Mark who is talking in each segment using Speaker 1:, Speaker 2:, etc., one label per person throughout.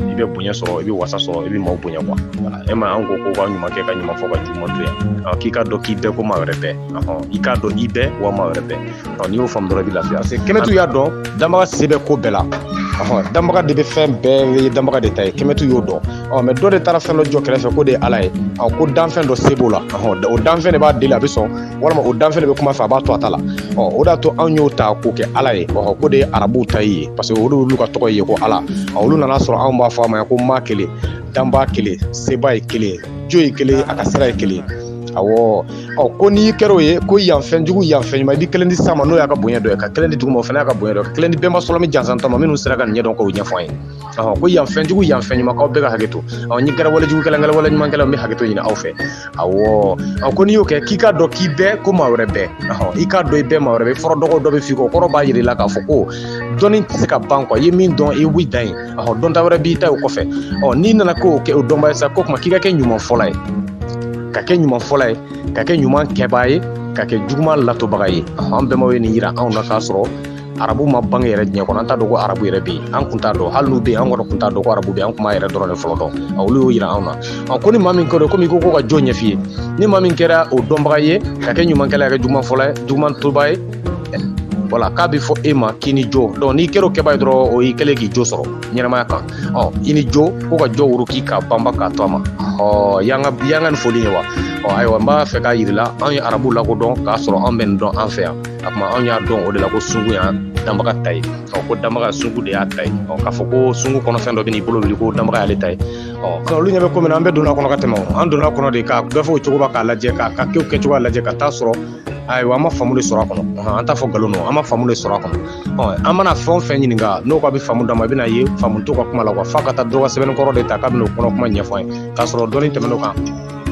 Speaker 1: i bɛ bonya sɔrɔ i bɛ wasa sɔrɔ i bɛ maaw bonya quoi e ma an ko ko ka ɲuman kɛ ka ɲuman fɔ ka juguman to yen k'i k'a dɔn k'i bɛ ko maa wɛrɛ bɛ i k'a dɔn i bɛ wa maa wɛrɛ bɛ n'i y'o faamu dɔrɔn i bɛ lafiya parce que kɛmɛtu y'a dɔn danbaga se bɛ ko bɛɛ la danbaga de bɛ fɛn bɛɛ ye danbaga de ta ye kɛmɛtu y'o dɔn mais dɔ de taara fɛn dɔ jɔ kɛrɛfɛ k'o de ye ala ye ko danfɛn dɔ se b'o la o danfɛn de b'a deli a bɛ sɔn walima o danfɛn de bɛ kuma a fɛ a b'a to a ta la ɔ o d'a to anw y'o ta k'o kɛ ala ye ɔ k'o de ye arabuw ta ye parce que o de y'olu ka tɔgɔ ye ko ala ɔ olu nan'a sɔrɔ anw b'a fɔ a ma ko maa kelen danba kelen seba ye kelen jo ye kelen a ka sira ye kelen awɔ ɔ ko n'i kɛra o ye ko yan fɛn jugu yan fɛn ɲuman i bɛ kelen di san ma n'o y'a ka bonya dɔ ye ka kelen di duguma o fana y'a ka bonya dɔ ye ka kelen di bɛnba sɔlɔmi jansanta ma minnu sera ka nin ɲɛdɔn k'o ɲɛfɔ an ye ko yan fɛnjugu yan fɛn ɲuman aw bɛɛ ka hakɛ to ɔ ni n kɛra walejugu kɛla n kɛra wale ɲuman kɛla n bɛ hakɛto ɲini aw fɛ awɔ a ko n'i y'o kɛ k'i k'a dɔn k'i bɛ ko maa wɛrɛ bɛ i k'a dɔn i bɛ maa wɛrɛ bɛ fɔlɔ dɔgɔ dɔ bɛ f'i kɔ o kɔrɔ b'a jira i la k'a fɔ ko dɔnni tɛ se ka ban quoi i ye min dɔn i wuli dan ye ɔ dɔnta wɛrɛ b'i ta o kɔfɛ ɔ n'i nana k'o kɛ o dɔnba ye sa ko kuma k'i ka kɛ ɲuman fɔla ye ka kɛ ɲuman fɔla ye ka kɛ ɲuman kɛbaa ye ka kɛ juguman latobaga ye an bɛnbaw ye nin yira anw na k'a sɔrɔ arabu ma bange yɛrɛ diɲɛ kɔnɔ an t'a dɔn ko arabu yɛrɛ bɛ yen an kun t'a dɔn hali n'u bɛ yen an kɔni kun t'a dɔn ko arabu bɛ yen an kun b'an yɛrɛ dɔrɔn de fɔlɔ dɔn a olu y'o yira anw na ɔ ko ni maa min kɛra komi ko ko ka jo ɲɛf'i ye ni maa min kɛra o dɔnbaga ye ka kɛ ɲumankɛla ye ka kɛ juguman fɔla ye juguman toba ye voilà k'a bɛ fɔ e ma k'i ni jo donc n'i kɛra o kɛba ye dɔrɔn o y'i kɛlen k'i jo sɔrɔ ɲɛnamaya kan ɔ i ni jo ko ka jo woro k'i k'a banba k'a to a ma o y'an ka y'an ka nin foli ye wa ɔ ayiwa n b'a fɛ k'a yir'i la an ye arabu lakodɔn k'a sɔrɔ an bɛ nin dɔn an fɛ yan a kuma anw y'a dɔn o de la ko sungu y'a danbaga ta ye ɔ ko danbaga sungu de y'a ta ye ɔ k'a fɔ ko sungu kɔnɔ fɛn dɔ bɛn'i bolo wuli ko danbaga y'ale ta ye ɔ olu ɲɛ bɛ ko min na an bɛɛ donn'a kɔnɔ ka tɛmɛ an donn'a kɔnɔ de ka gafe o cogo k'a lajɛ k'a ka kow kɛcogoya lajɛ ka t'a sɔrɔ ayiwa an ma faamu de sɔrɔ a kɔnɔ an t'a fɔ nkalon don an ma faamu de sɔrɔ a kɔnɔ ɔ an mana fɛn o fɛn ɲininka n'o k'a bɛ faamu d'an ma i bɛna ye faamu t'o ka kuma la wa f'a ka taa dɔ ka sɛbɛnnikɔrɔ de ta k'a bɛn'o kɔnɔ kuma ɲɛfɔ an ye k'a sɔrɔ dɔnni tɛmɛn'o kan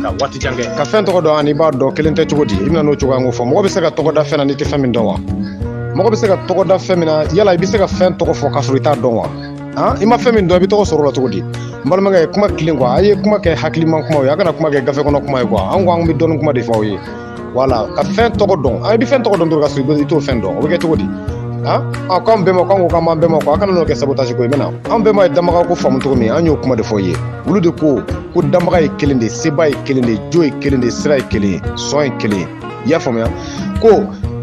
Speaker 1: ka waati jan kɛ ka fɛn tɔgɔ dɔn ani i b'a dɔn kelen tɛ cogo di i bɛna n'o cogoya ko fɔ mɔgɔ bɛ se ka tɔgɔ da fɛn na n'i tɛ fɛn min dɔn wa mɔgɔ bɛ se ka tɔgɔ da fɛn min na yala i bɛ se ka fɛn tɔgɔ fɔ k'a sɔrɔ i t'a dɔn wa han i ma fɛn min dɔn i bɛ tɔgɔ sɔrɔ o la cogo di n balimakɛ ye kuma tilen quoi a ye kuma kɛ hakiliman kuma ye a kana kuma kɛ gafe kɔnɔ kuma ye quoi an ko an bɛ dɔnni kuma de fɔ aw ye voilà ka fɛn tɔgɔ dɔn i bɛ fɛn tɔgɔ dɔn dɔrɔn k'a sɔrɔ i t'o fɛn dɔn o bɛ kɛ cogo di han a ko an bɛnbaw k'an ko k'an b'an bɛnbaw kɔ a kana n'o kɛ sabotage ko ye bɛna an bɛnbaw ye danbaga ko faamu cogo min an y'o kuma de fɔ aw ye olu de ko ko danbaga ye kelen de ye seba ye kelen de ye jo ye kelen de ye sira ye kelen ye sɔn ye kelen ye i y'a faamuya ko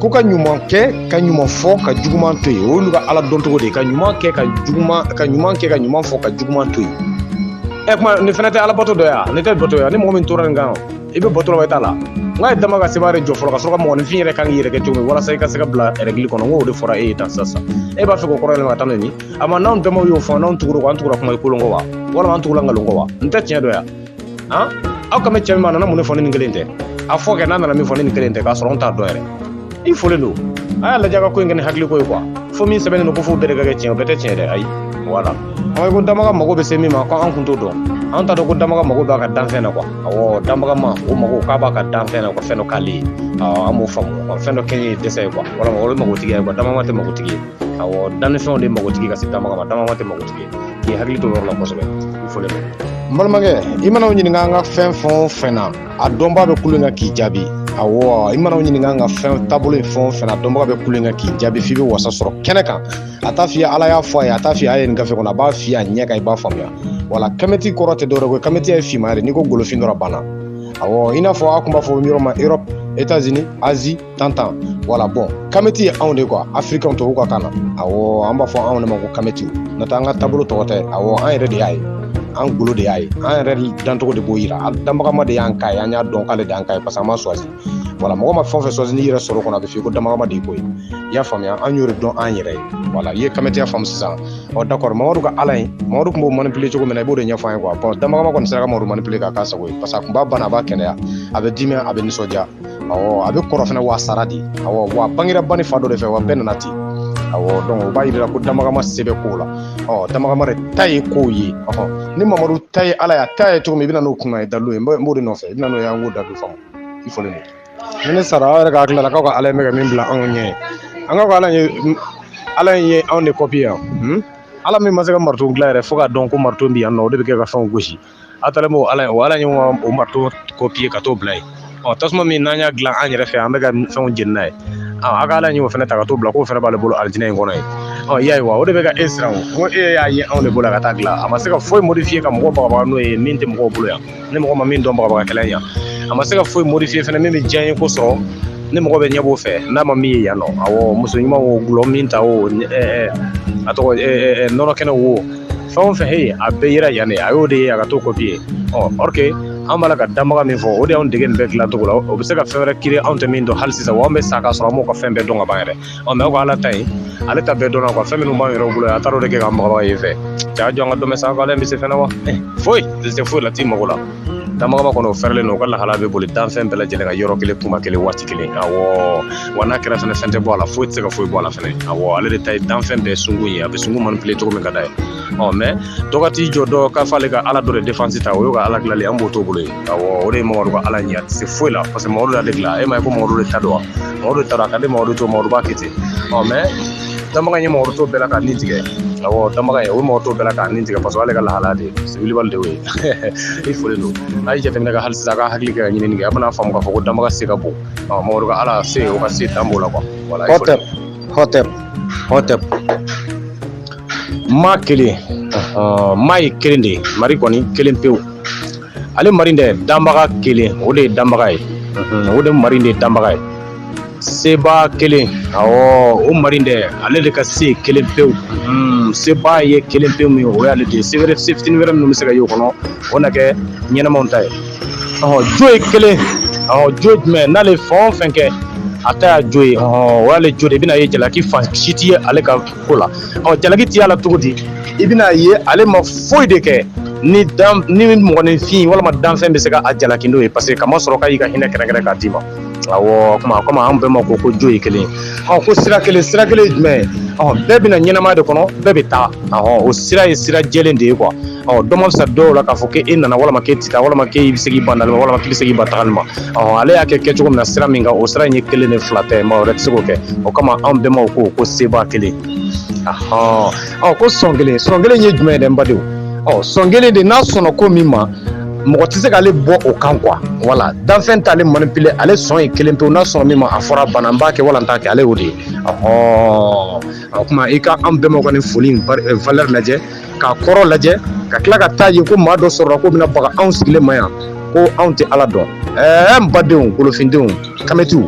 Speaker 1: ko ka ɲuman kɛ ka ɲuman fɔ ka juguman to yen o y'olu ka ala dɔn cogo de ye ka ɲuman kɛ ka juguman ka ɲuman kɛ ka ɲuman fɔ ka juguman to yen ɛ kuma nin fana tɛ alabato dɔ ye wa nin tɛ bato ye wa ni mɔgɔ min tora nin kan i bɛ bɔtɔrɔ bɛ t'a la n ka ye dama ka seba de jɔ fɔlɔ ka sɔrɔ ka mɔgɔninfin yɛrɛ kan k'i yɛrɛ kɛ cogo min walasa i ka se ka bila rɛgili kɔnɔ n k'o de fɔra e ye tan sisan e b'a fɛ k'o kɔrɔ yɛlɛma ka taa n'o ye a ma n'anw damaw y'o fɔ n'anw tugura ko an tugura kuma kolon kɔ wa walima an tugura nkalon kɔ wa n tɛ tiɲɛ dɔn yan han aw kan bɛ cɛ min ma a nana mun de fɔ ni nin kelen tɛ a fɔ kɛ n'a nana min fɔ ni nin kelen tɛ k'a sɔrɔ anw t'a dɔn yɛrɛ i folen don a y'a lajɛ ka ko in kɛ ni hakili ko ye kuwa fo min sɛbɛnnen don ko f'u bɛɛ de ka kɛ tiɲɛ o bɛɛ tɛ tiɲɛ dɛ ayi wala ɔ ko danbaga mago bɛ se min ma ko an kun t'o dɔn an t'a dɔn ko danbaga mago b'a ka danfɛn na kuwa awɔ danbagama o mago k'a b'a ka danfɛn na ko fɛn dɔ k'ale ye an b'o faamu fɛn dɔ kɛɲɛ ye dɛsɛ ye kuwa walima o ye magotigi ye kuwa danbaga tɛ magotigi ye awɔ dannifɛnw de magotigi ka se danbaga ma danbaga tɛ magotigi ye k'i hakili to o yɔrɔ la kosɛbɛ i foli n balimakɛ i mana o ɲininka an ka fɛn fɛn o fɛn na a dɔnbaa bɛ kulu in kan k'i jaabi awɔ i mana o ɲininka an ka fɛn taabolo ye fɛn o fɛn a dɔnbaga bɛ kulu in kan k'i jaabi f'i bɛ wasa sɔrɔ kɛnɛ kan a t'a f'i ye ala y'a fɔ a ye a t'a f'i ye a ye nin gafe kɔnɔ a b'a f'i ye a ɲɛ kan i b'a faamuya wala kamɛti kɔrɔ tɛ dɔwɛrɛ ko kamɛtiya ye finmanya de n'i ko golofin dɔrɔn a banna awɔ i n'a fɔ a tun b'a fɔ yɔrɔ ma erɔpu etazini azi tan tan wala bon kamiti ye anw de kuwa afirikɛnw tubabu ka kan na awɔ an b'a fɔ anw de ma ko kamiti n'o tɛ an ka taabolo tɔgɔ tɛ awɔ an yɛrɛ de y'a ye an golo de y'a ye an yɛrɛ dancogo de b'o yira an danbagama de y'an k'a ye an y'a dɔn k'ale de y'an k'a ye parce que an ma choisi wala mɔgɔ ma fɛn fɛn choisi n'i yɛrɛ sɔrɔ kɔnɔ a bɛ f'i ko danbagama de ko ye i y'a faamuya an y'o de dɔn an yɛrɛ ye wala i ye kamitiya faamu sisan ɔ d'accord mamadu ka ala ye mamadu tun b'o manipule cogo min na i b'o de ɲɛfɔ an ye quoi bon danbagama kɔni sera ka mamadu manipule k'a k'a sago ye parce que a tun b'a bana a b'a kɛnɛya a bɛ dimi a bɛ nisɔndiya awɔ a bɛ kɔrɔ fana w'a sara de awɔ w'a bangera ba ni fa dɔ de fɛ wa bɛɛ nana ten awɔ donc o b'a yira ko danbagama se bɛ kow la ɔ danbagama de ta ye kow ye ɔhɔn ni mamadu ta ye ala y'a ta ye cogo min i bɛ na n'o kun n'a dalilu ye n b'o de nɔfɛ i bɛ na n'o ye an k'o dalilu faamu i folen don ni ne sara aw yɛrɛ ka hakili la k'aw ka ala in bɛ ka min bila anw ɲɛ aw ka ala ye ala in ye anw de kopi yan ala min ma se ka marito dilan yɛrɛ fo k'a dɔn ko marito bɛ yan nɔ o de bɛ kɛ ka fɛnw gosi A taara b'o ala ye o ala ye o marito kopiye ka t'o bila yen ɔ tasuma min n'an y'a dilan an yɛrɛ fɛ yan an bɛ ka fɛnw jeni n'a ye aw ka ala nin y'o fana ta ka t'o bila k'o fana b'ale bolo alijinɛ in kɔnɔ yen ɔ y'a ye wa o de bɛ ka e siran o ko e y'a ye anw de bolo ka taa dilan a ma se ka foyi modifiye ka mɔgɔ bagabaga n'o ye min tɛ mɔgɔw bolo yan ni mɔgɔ ma min dɔn bagabaga kɛlan yan a ma se ka foyi modifiye fana min bɛ diyanyeko sɔrɔ ni mɔgɔ bɛ ɲɛ b'o fɛ n'a ma min ye yan nɔ awɔ muso ɲuman o dɔlɔ minta o a tɔgɔ nɔnɔ kɛnɛ wo fɛn o fɛn he a bɛɛ yera yan de a y'o de ye ka t'o kopiye ɔ or que an b'a la ka danbaga min fɔ o de y'anw dege nin bɛɛ dilancogo la o bɛ se ka fɛn wɛrɛ kireye anw tɛ min dɔn hali sisan wa an bɛ sa k'a sɔrɔ an m'o ka fɛn bɛɛ dɔn ka ban yɛrɛ ɔ mɛ aw ka ala ta in ale ta bɛɛ dɔnna kuwa fɛn minnu b'an yɛrɛw bolo yan a taar'o de kɛ k'an bagabaga ye fɛ ja jɔ an ka dɔmɛ sanfɛ ale bɛ se fɛn na wa foyi tɛ se foyi la t'i mago la Danbagaba kɔnɔ fɛrɛlen u ka laha bɛ boli danfɛn bɛɛ lajɛlen ka yɔrɔ kelen kuma kelen waati kelen a wa n'a kɛra fɛn fɛn tɛ bɔ a la foyi tɛ se ka foyi bɔ a la fana a ale de ta ye danfɛn bɛɛ sun ye a bɛ sun man bilen cogo min ka da ye ɔ mɛ dɔgɔ' jɔ dɔn k'a fɔale ka ala dɔ defasi ta o y' ka ala dilanli an b'o to bolo o de ye mamadu ka ala ɲɛ se foyi la parce que mamadu la de e ma ye ko mamadu de ta don wa mamadu taara ka di mamadu to mamadu kite ɔ mɛ danbaga ye mɔgɔ t'o bɛɛ la ka ni tigɛ awɔ danbaga ye o ye mɔgɔ t'o bɛɛ la ka ni tigɛ paseke ale ka lahalaya de ye wilibali de ye i foli don n'a ye jateminɛ kɛ hali sisan a ka hakili kɛ ka ɲinini kɛ a bɛna faamu k'a fɔ ko danbaga se ka bon mɔgɔ ka ala se o ka se dan b'o la kuwa wala hɔtɛ hɔtɛ hɔtɛ maa kelen maa ye kelen de ye mari kɔni kelen pewu ale mari dɛ danbaga kelen o de ye danbaga ye o de mari de ye danbaga ye seba kelen ɔ o mari dɛ ale de ka se kelen pewu hmm, seba ye kelen pewu min o y'ale de se wɛrɛ se fitinin wɛrɛ minnu bɛ se ka y'o kɔnɔ o na kɛ ɲɛnamaw ta ye ɔ jo ye kelen ɔ jo jumɛn n'ale fɛn o fɛn kɛ a ta y'a jo ye ɔ o y'ale jo de i bɛna ye jalaki fan si tɛ ye ale ka ko la ɔ jalaki tɛ y'a la cogo di i bɛna ye ale ma foyi de kɛ ni dan ni mɔgɔninfin walima danfɛn bɛ se ka a jalaki n'o ye paseke k'a masɔrɔ k'a y'i ka hinɛ kɛrɛnkɛrɛn k'a d'i ma Awɔ o tuma o kama an bɛnbaw ko ko jo ye kelen ye, ɔ ko sira kelen, sira kelen ye jumɛn ye? Ɔ bɛɛ bɛ na ɲɛnamaya de kɔnɔ, bɛɛ bɛ taa, ɔhɔ, o sira ye sira jɛlen de ye quoi ɔ dɔ man fisa dɔw la k'a fɔ k'e nana walima k'e tɛ taa walima k'e bɛ se k'i ban nali ma walima k'i bɛ se k'i ban tagali ma, ɔhɔ, ale y'a kɛ kɛcogo min na sira min kan o sira in ye kelen de fila tɛ maa wɛrɛ tɛ se k'o kɛ, o kama anw bɛnbaw ko ko seba kelen, ɔhɔ. ɔ ko sɔn kelen sɔn kelen ye jumɛn ye dɛ n badenw ɔ sɔn kelen de n'a sɔnna ko min ma mɔgɔ tɛ se k'ale bɔ o kan kuwa wala danfɛn t'ale manipile ale sɔn ye kelen pewu n'a sɔnna min ma a fɔra banna n b'a kɛ wala n t'a kɛ ale y'o de ye ɔhɔn o tuma i ka an bɛnbaw ka nin foli in eh, valeur lajɛ k'a kɔrɔ lajɛ ka tila ka taa ye ko maa dɔ sɔrɔla k'o bɛna baga anw sigilen ma yan ko anw tɛ ala dɔn ɛɛ n badenw golofindenw kamɛtiw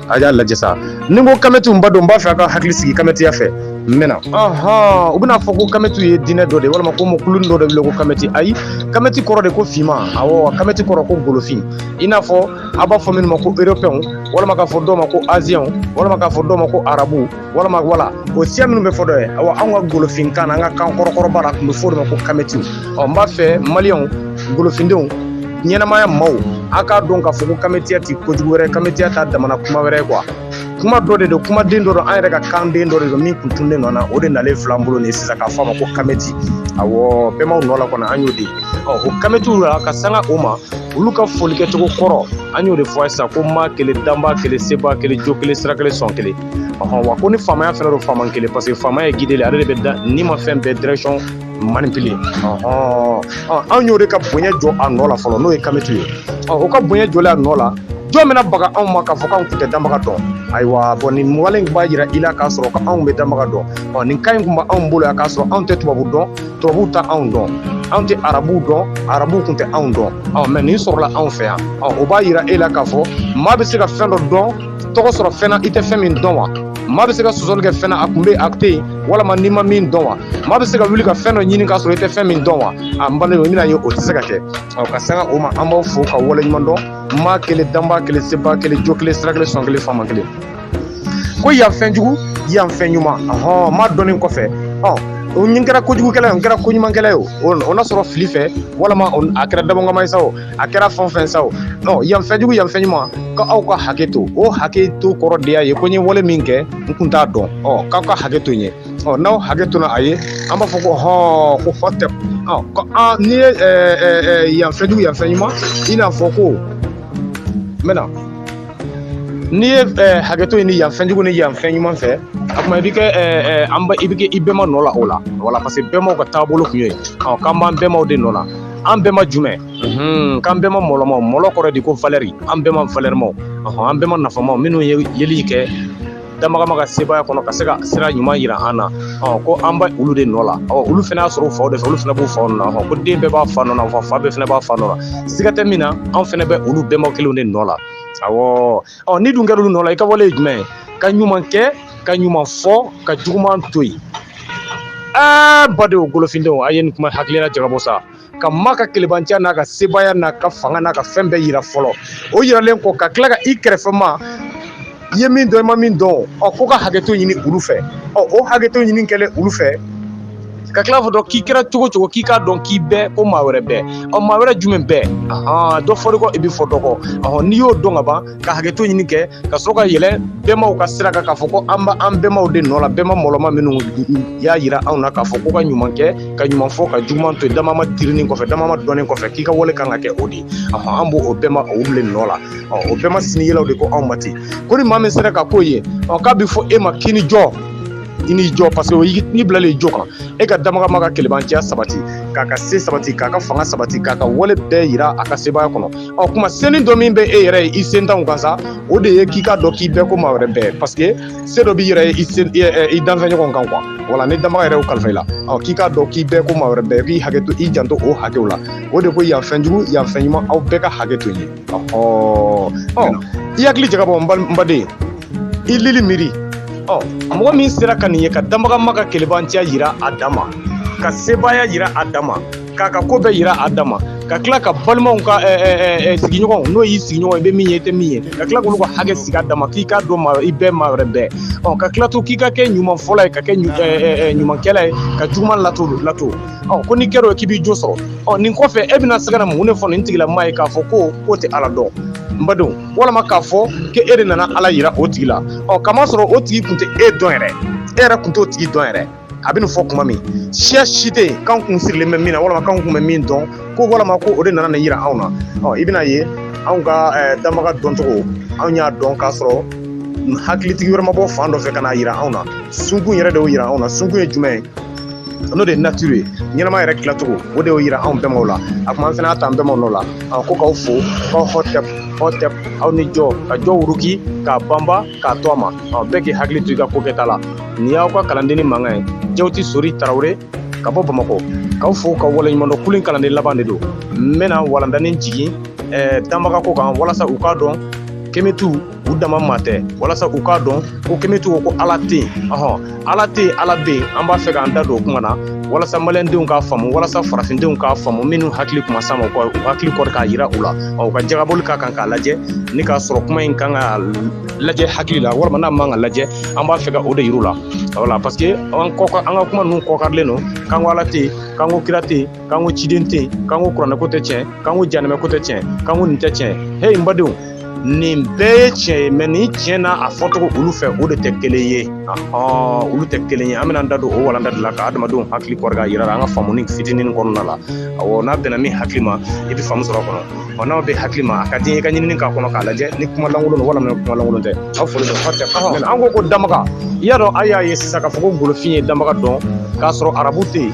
Speaker 1: a y'a lajɛ sa ni ko kamɛtiw n b'a dɔn n b'a fɛ a ka hakili sigi kamɛtiya fɛ n bɛna u bɛna a fɔ ko kamɛtiw ye diinɛ dɔ de walima ko mɔgɔ kulunin dɔ de wele ko kamɛti ayi kamɛti kɔrɔ de ko finma awɔ kamɛti kɔrɔ ko golofin i n'a fɔ a b'a fɔ minnu ma ko europɛnw walima k'a fɔ dɔw ma ko aziyɛnw walima k'a fɔ dɔw ma ko arabuw walama wala o siya minnu bɛ fɔ dɔ ye awa anw ka golofin kan an ka kan kɔrɔkɔrɔba la tun bɛ fɔ de ma ko kamɛtiw ɔ n b'a fɛ maliyɛnw golofindenw ɲɛnamaya maaw a k'a dɔn k'a fɔ ko kametiya tɛ kojugu wɛrɛ kametiya t'a damana kuma wɛrɛ ye kuwa kuma dɔ de don kumaden dɔ don an yɛrɛ ka kanden dɔ de don min tun tununnen nɔ na o de nalen filɛ an bolo nin sisan k'a fɔ a ma ko kameti awɔ bɛnbaw nɔ la kɔnɔ an y'o de ye ɔ o kametiw la ka sanga o ma olu ka foli kɛcogo kɔrɔ an y'o de fɔ a ye sisan ko maa kelen danba kelen seba kelen jo kelen sira kelen sɔn kelen ɔhɔn wa ko ni faamaya fɛnɛ don faama kelen parce que faamaya ye guide ye ale de bɛ dannimafɛn bɛɛ direction manipuler ɔhɔn anw y'o de ka bonya jɔ a nɔ la fɔlɔ n'o ye kamitu ye o ka bonya jɔlen a nɔ la jɔn bɛna baga anw ma k'a fɔ k'anw tun tɛ danbaga dɔn ayiwa bon nin wale in b'a jira i la k'a sɔrɔ anw bɛ danbaga dɔn ɔ nin kan in tun b'anw bolo yan k'a sɔrɔ anw tɛ tubabu dɔn tubabuw tɛ anw dɔn anw tɛ arabuw dɔn arabuw tun tɛ anw dɔn ɔ mais nin sɔrɔla anw fɛ yan ɔ o b'a jira e la k'a fɔ maa bɛ se ka fɛn dɔ dɔn tɔgɔ sɔrɔ fɛn na i tɛ fɛn min dɔn wa maa bɛ se ka sɔsɔli kɛ fɛn na a kun bɛ a tɛ yen walima n'i ma min dɔn wa maa bɛ se ka wuli ka fɛn dɔ ɲini k'a sɔrɔ i tɛ fɛn min dɔn wa a n balimaw i bɛna ye o tɛ se ka kɛ ɔ ka sanga o ma an b'aw fo ka wale ɲuman dɔn maa kelen danbaa kelen sebaa kelen jo kelen sira kelen sɔn kelen faama kelen ko yan fɛn jugu yan fɛn ɲuman ɔhɔn maa dɔnnen kɔfɛ ɔ n kɛra kojugukɛla ye n kɛra koɲumankɛla ye o o na sɔrɔ fili fɛ walama a kɛra dabɔnkama ye sa o a kɛra fɛn fɛn sa o non yan fɛn jugu yan fɛn ɲuman ka aw ka hakɛ to o hakɛ to kɔrɔ de y'a ye ko n ye wale min kɛ n kun t'a dɔn ɔ k'aw ka hakɛ to n ye ɔ n'aw hakɛ tona a ye an b'a fɔ ko hɔn ko fɔ tɛ ɔ ko an n'i ye ɛɛ ɛɛ yan fɛn jugu yan fɛn ɲuman i n'a fɔ ko n bɛna n'i ye ɛɛ hakɛ to yen ni yan fɛn jugu ni yan fɛn ɲuman fɛ a kuma i bɛ kɛ ɛɛ ɛɛ an ba i bɛ kɛ i bɛnba nɔ la o la voilà parce que bɛnbaw ka taabolo kun ye ɔ k'an b'an bɛnbaw de nɔ la an bɛnba jumɛn k'an bɛnba mɔlɔmaw mɔlɔ kɔrɔ de ko valɛri an bɛnba valɛrimaw an bɛnba nafamaw minnu ye yeli kɛ damagama ka sebaaya kɔnɔ ka se ka sira ɲuman yira an na ko an bɛ olu de nɔ la olu fɛnɛ y'a sɔrɔ u faw de fɛ olu fɛnɛ b'u fa nɔ na ko den bɛɛ b'a fa nɔ na fa bɛɛ fɛnɛ b'a fa nɔ la siga tɛ min na an fɛnɛ bɛ olu bɛnba kelenw de nɔ la ɔ n'i dun kɛra olu nɔ la i ka wale ye jumɛn ye ka ɲuman kɛ ka ɲuman fɔ ka juguman to yen aa badenw golofindenw a ye nin kuma hakilila jagabɔ sa ka ma ka kelebanciya n'a ka sebaaya n'a ka fanga n'a ka fɛn bɛɛ yira fɔlɔ o yiralen kɔ ka tila ka i kɛrɛfɛ maa i ye min dɔn i ma min dɔn ɔ ko ka hakɛto ɲini olu fɛ ɔ o hakɛto ɲini kɛlen olu fɛ ka tila k'o dɔn k'i kɛra cogo cogo k'i k'a dɔn k'i bɛ ko maa wɛrɛ bɛ ɔ maa wɛrɛ jumɛn bɛ dɔ fɔli kɔ i bɛ fɔ dɔgɔ ɔ n'i y'o dɔn ka ban ka hakɛto ɲini kɛ ka sɔrɔ ka yɛlɛ bɛnbaw ka sira kan k'a fɔ ko an bɛ an bɛnbaw de nɔ la bɛnba mɔlɔma minnu y'a jira anw na k'a fɔ ko ka ɲuman kɛ ka ɲuman fɔ ka juguman to dama ma delilen kɔfɛ dama ma dɔnnen kɔfɛ k'i ka wale kan ka kɛ o de an b'o o bɛnbaw olu nɔ la o bɛnba sini yelaw de ko anw ma ten ko ni maa min sera ka k'o ye ɔ k'a bɛ fɔ e ma k'i ni jo i ni jo parce que n'i bilalen jo kan e ka damagama ka kelebanciya sabati k'a ka se sabati k'a ka fanga sabati k'a ka wale bɛɛ yira a ka sebaya kɔnɔ ɔ kuma seni dɔ min bɛ e yɛrɛ ye i sentanw kan sa o de ye k'i k'a dɔn k'i bɛ ko maa wɛrɛ bɛ parce que se dɔ b'i yɛrɛ ye i sen i danfɛnɲɔgɔn kan quoi wala ni damaga yɛrɛ kalifa i la ɔ k'i k'a dɔn k'i bɛ ko maa wɛrɛ bɛ k'i hakɛ to i janto o hakɛw la o de ko yan fɛn jugu yan fɛn ɲuman aw bɛɛ ka hakɛ to ye ɔhɔ ɔ i hakili jagabɔ n baden i lili miiri ɔ mɔgɔ min sera ka nin ye ka danbagama ka kelebanciya yira a dan ma ka sebaaya yira a dan ma k'a ka ko bɛɛ yira a dan ma ka tila ka balimaw ka eh, eh, eh, sigiɲɔgɔnw n'o y'i sigiɲɔgɔn i bɛ min ye i tɛ min ye ka tila k'olu ka hakɛ sigi a dan ma k'i k'a dɔn maa i bɛɛ maa wɛrɛ bɛɛ ɔ ka tila to k'i ka kɛ ɲumanfɔla ye ka kɛ ɲu- eh, eh, eh, ɲumankɛla ye ka juguman lato lato ɔ ko n'i kɛra o ye k'i b'i jo sɔrɔ ɔ nin kɔfɛ e bɛna se ka na mun de fɔ nin tigilamaa ye k'a fɔ ko k'o tɛ ala dɔn n badenw walima k'a fɔ ko e de nana ala yira o tigi la ɔ k'a masɔrɔ o tigi tun tɛ e dɔn yɛrɛ e yɛrɛ tun t'o tigi dɔn yɛrɛ a bɛ nin fɔ kuma min siya si tɛ yen k'an kun sirilen bɛ min na walima k'an kun bɛ min dɔn ko walima ko o de nana nin yira anw na ɔ i bɛn'a ye anw ka danbaga dɔncogo anw y'a dɔn k'a sɔrɔ hakilitigi wɛrɛ ma bɔ fan dɔ fɛ ka n'a yira anw na sunkun yɛrɛ de y'o yira anw na sunkun ye jumɛn ye n'o de ye nature ye ɲɛnama yɛrɛ tilacogo o de y'o yira anw bɛnbaw la a kuma an fana y'a ta an bɛnbaw nɔ la a ko k'aw fo k'aw hɔtɛp hɔtɛp aw ni jɔ ka jɔ wuruki k'a banba k'a to a ma ɔ bɛɛ k'i hakili to i ka ko kɛta la nin y'aw ka kalandenni mankan ye jawuti sori tarawele ka bɔ bamakɔ k'aw fo k'aw waleɲumandɔn kulu in kalanden laban de don n bɛna walandanin jigin eh, danbaga ko kan walasa u k'a dɔn kemitu u dama maa tɛ walasa u k'a dɔn ko kemitu ko ko ala tɛ yen ɔhɔn ala tɛ yen ala bɛ yen an b'a fɛ k'an da don o kuma na walasa malidenw k'a faamu walasa farafindenw k'a faamu minnu hakili tun ma s'a ma u hakili kɔrɔ k'a yira u la ɔ u ka jagabɔli k'a kan k'a lajɛ ni k'a sɔrɔ kuma in kan ka lajɛ hakili la walima n'a man ka lajɛ an b'a fɛ ka o de yir'u la wala parce que an kɔka an ka kuma ninnu kɔkarilen don k'an ko ala tɛ yen k'an ko kira tɛ yen k'an ko ciden tɛ yen k'an ko kuranɛko tɛ tiɲɛ k'an ko jahanamako tɛ tiɲɛ k'an ko nin tɛ tiɲɛ he n badenw nin bɛɛ ye tiɲɛ ye mais nin tiɲɛ n'a a fɔcogo olu fɛ o de tɛ kelen ye olu tɛ kelen ye an bɛna da don o walanda de la ka adamadenw hakili kɔrɔ k'a yira an ka faamuni fitinin kɔnɔna la awɔ n'a bɛnna min hakili ma i bɛ faamu sɔrɔ kɔnɔ wa n'aw bɛ hakili ma a ka di i ka ɲinini k'a kɔnɔ k'a lajɛ ni kuma lankolon don walima kuma lankolon tɛ aw foli bɛ fa tɛ an ko ko danbaga i y'a dɔn a y'a ye sisan k'a fɔ ko golofin ye danbaga dɔn k'a sɔrɔ arabu tɛ yen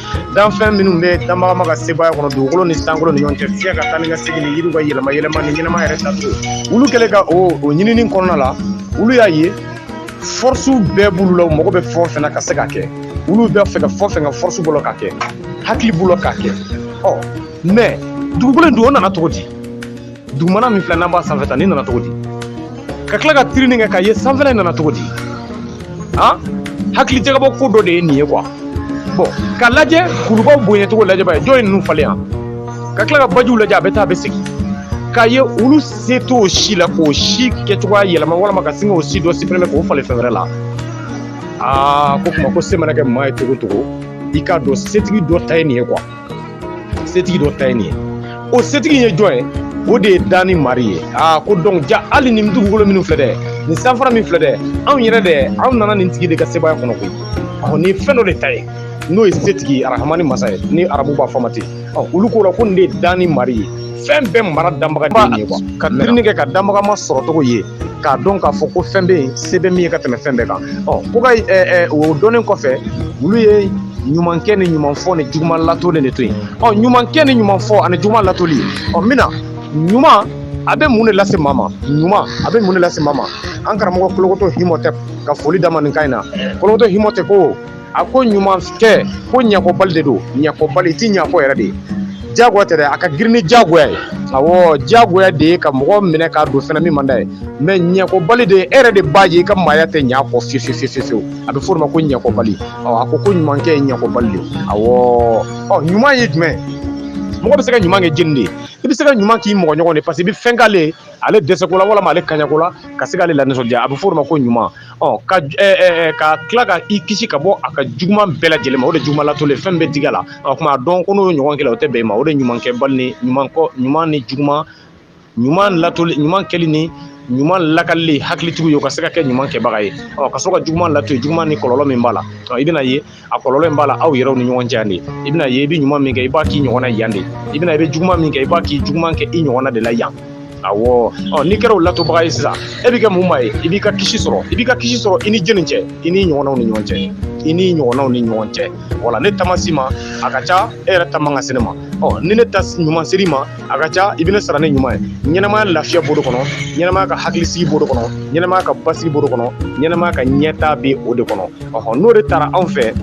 Speaker 1: danfɛn minnu bɛ danbagama ka sebaaya kɔnɔ dugukolo ni sankolo ni ɲɔgɔn cɛ fiɲɛ ka taa ni ka segin ni yiriw ka yɛlɛma yɛlɛma ni ɲɛnama yɛrɛ taacogo olu kɛlen ka o o ɲinini kɔnɔna la olu y'a ye fɔrisiw bɛɛ b'olu la u mago bɛ fɛn o fɛn na ka se ka kɛ olu b'a fɛ ka fɛn o fɛn kɛ fɔrisi b'u la k'a kɛ hakili b'u la k'a kɛ ɔ mais dugukolo in dun o nana cogo di dugumana min filɛ n'an b'a sanfɛ ta nin nana cogo di ka tila ka tirini kɛ k'a ye sanfɛla in nana cogo di han hakili jagabɔ ko dɔ de ye nin ye quoi bon ka lajɛ kulubaw bonyacogo lajɛ b'a ye jɔn ye ninnu falen yan ka tila ka bajiw lajɛ a bɛ taa a bɛ segin k'a ye olu se t'o si la k'o si kɛcogoya yɛlɛma walama ka sin k'o si dɔ supprimer k'o falen fɛn wɛrɛ la aa ko kuma ko se mana kɛ maa ye cogo o cogo i k'a dɔn setigi dɔ ta ye nin ye quoi setigi dɔ ta ye nin ye o setigi ye jɔn ye o de ye danni mari ye aa ko dɔn jaa hali nin dugukolo minnu filɛ dɛ nin sanfara min filɛ dɛ anw yɛrɛ dɛ anw nana nin tigi de ka sebaya kɔnɔ koyi ɔ nin ye fɛn dɔ de ta ye n'o ye setigi arahamani masa ye ni arabu b'a fɔ ma ten ɔ olu ko la ko nin de ye danni mari ye fɛn bɛɛ mara danbaga de ye kuwa ka ɲinini kɛ ka danbaga masɔrɔ cogo ye k'a dɔn k'a fɔ ko fɛn bɛ yen se bɛ min ye ka tɛmɛ fɛn bɛɛ kan ɔ ko ka o dɔnnen kɔfɛ olu ye ɲumankɛ ni ɲumanfɔ ni juguman latoli de to yen ɔ ɲumankɛ ni ɲumanfɔ ani juguman latoli ɔ min na ɲuman a bɛ mun de lase maa ma ɲuman a bɛ mun de lase maa ma an karamɔgɔ kolokotɔ himɔtɛ ka fɔli damanin kan in na kolokotɔ himɔtɛ ko a ko ɲumankɛ ko ɲɛkɔbali de don ɲɛkɔbali tɛ ɲɛfɔ yɛrɛ de ye jagoya tɛ a ka girin ni jagoya ye a jagoya de ye ka mɔgɔ minɛ k'a don fɛn min man ye mɛ ɲɛkɔbali de e yɛrɛ de b'a ye i ka maaya tɛ ɲɛ kɔ fi fiyewu a bɛ fɔ ma ko ɲɛkɔbali a ko ko ɲumankɛ ye ɲɛkɔbali de a ɲuman ye jumɛn mɔgɔ bɛ se ka ɲuman kɛ jɛni de ye i bɛ se ka ɲuman k'i mɔgɔ ɲɔgɔn de fɛ k'i bɛ fɛn k'ale dɛsɛko la walima ale ka ɲako la ka se k'ale lanisɔndiya a bɛ f'o ma ko ɲuman ɔ ka ka tila ka i kisi ka bɔ a ka juguman bɛɛ lajɛlen ma o de juguman latoli fɛn bɛ digi a la o tuma a dɔn ko n'o ɲɔgɔn kɛla o tɛ bɛn i ma o de ɲuman kɛ bali ni ɲuman kɔ ɲuman ni juguman ɲuman latoli ɲuman kɛli ni ɲuman lakalili hakilitigiw ye u ka se ka kɛ ɲuman kɛbaga ye ɔ ka sɔrɔ ka juguman lato yen juguman ni kɔlɔlɔ min b'a la i bɛn'a ye a kɔlɔlɔ in b'a la aw yɛrɛw ni ɲɔgɔn cɛ yan de i bɛn'a ye i bɛ ɲuman min kɛ i b'a k'i ɲɔgɔn na yan de i bɛna i bɛ juguman min kɛ i b'a k'i juguman kɛ i ɲɔgɔn na de la yan awɔ ɔ n'i kɛra o latobaga ye sisan e bɛ kɛ mun maa ye i b'i ka kisi sɔrɔ i b'i ka kisi sɔrɔ i ni jɛni cɛ i ni ɲɔgɔnnaw ni ɲɔgɔn cɛ i ni ɲɔgɔnnaw ni ɲɔgɔn cɛ wala ne ta ma s'i ma a ka ca e yɛrɛ ta man kan ka se ne ma ɔ ni ne ta ɲuman ser'i ma a ka ca i bɛ ne sara ni ɲuman ye ɲɛnamaya lafiya b'o de kɔnɔ ɲɛnamaya ka hakilisigi b'o de kɔnɔ ɲɛnamaya ka basigi b'o de kɔnɔ ɲɛnamaya ka ɲɛtaa bɛ o de kɔnɔ ɔhɔ n'o de tara anw fɛ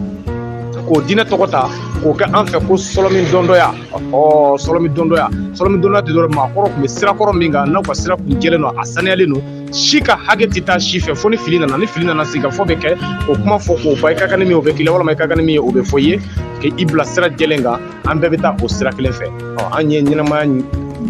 Speaker 1: k'o diinɛ tɔgɔ ta k'o kɛ an fɛ ko sɔlɔmi dɔndɔya ɔ sɔlɔmi dɔndɔya sɔlɔmi dɔndɔya tɛ dɔrɔn maakɔrɔ tun bɛ sirakɔrɔ min kan n'aw ka sira kun jɛlen don a saniyalen don si ka hakɛ tɛ taa si fɛ fo ni fili nana ni fili nana sigikafɔ bɛ kɛ o kuma fɔ k'o ban i ka kan ni min ye o bɛ k'i la walima i ka kan ni min ye o bɛ fɔ i ye k'i bila sira jɛlen kan an bɛɛ bɛ taa o sira kelen fɛ an ye ɲɛnamaya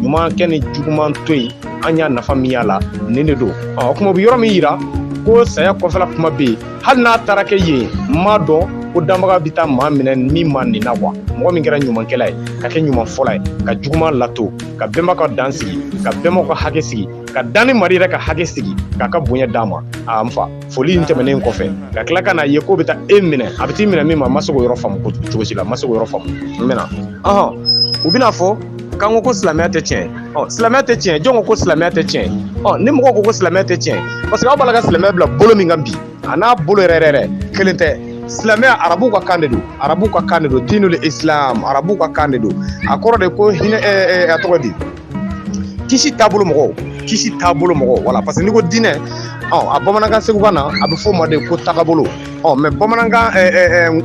Speaker 1: ɲuman kɛ ni juguman to yen an y'a nafa min y'a la nin de don o kuma u bɛ yɔrɔ min yira ko saya kɔfɛla kuma bɛ yen hali n'a taara kɛ yen n m'a dɔn ko danbaga bɛ taa maa minɛ min ma nin na kuwa mɔgɔ min kɛra ɲumankɛla ye ka kɛ ɲuman fɔla ye ka juguman lato ka bɛnbaw ka dan sigi ka bɛnbaw ka hakɛ sigi ka danni mari yɛrɛ ka hakɛ sigi k'a ka bonya d'a ma a n fa foli in tɛmɛnen kɔfɛ ka tila ka n'a ye k'o bɛ taa e minɛ a bɛ t'i minɛ min ma ma se k'o yɔrɔ faamu cogo si la ma se k'o yɔrɔ faamu n bɛna ɔhɔn u bɛna fɔ k'an ko ko silamɛya tɛ tiɲɛ ɔ silamɛya tɛ tiɲɛ jɔn ko ko silamɛya tɛ tiɲɛ ɔ ni mɔgɔw ko ko silamɛya tɛ tiɲɛ parce que aw b'a la ka silamɛya bila bolo min kan bi a n'a bolo yɛrɛ yɛrɛ kelen tɛ silamɛya arabuw ka kan de don arabuw ka kan de don diinul islam arabuw ka kan de don a kɔrɔ de ko hinɛ a tɔgɔ di kisi taabolo mɔgɔw kisi taabolo mɔgɔw wala parce que n'i ko diinɛ ɔ a bamanankan segukan na a bɛ fɔ o ma de ko tagabolo ɔ mɛ bamanankan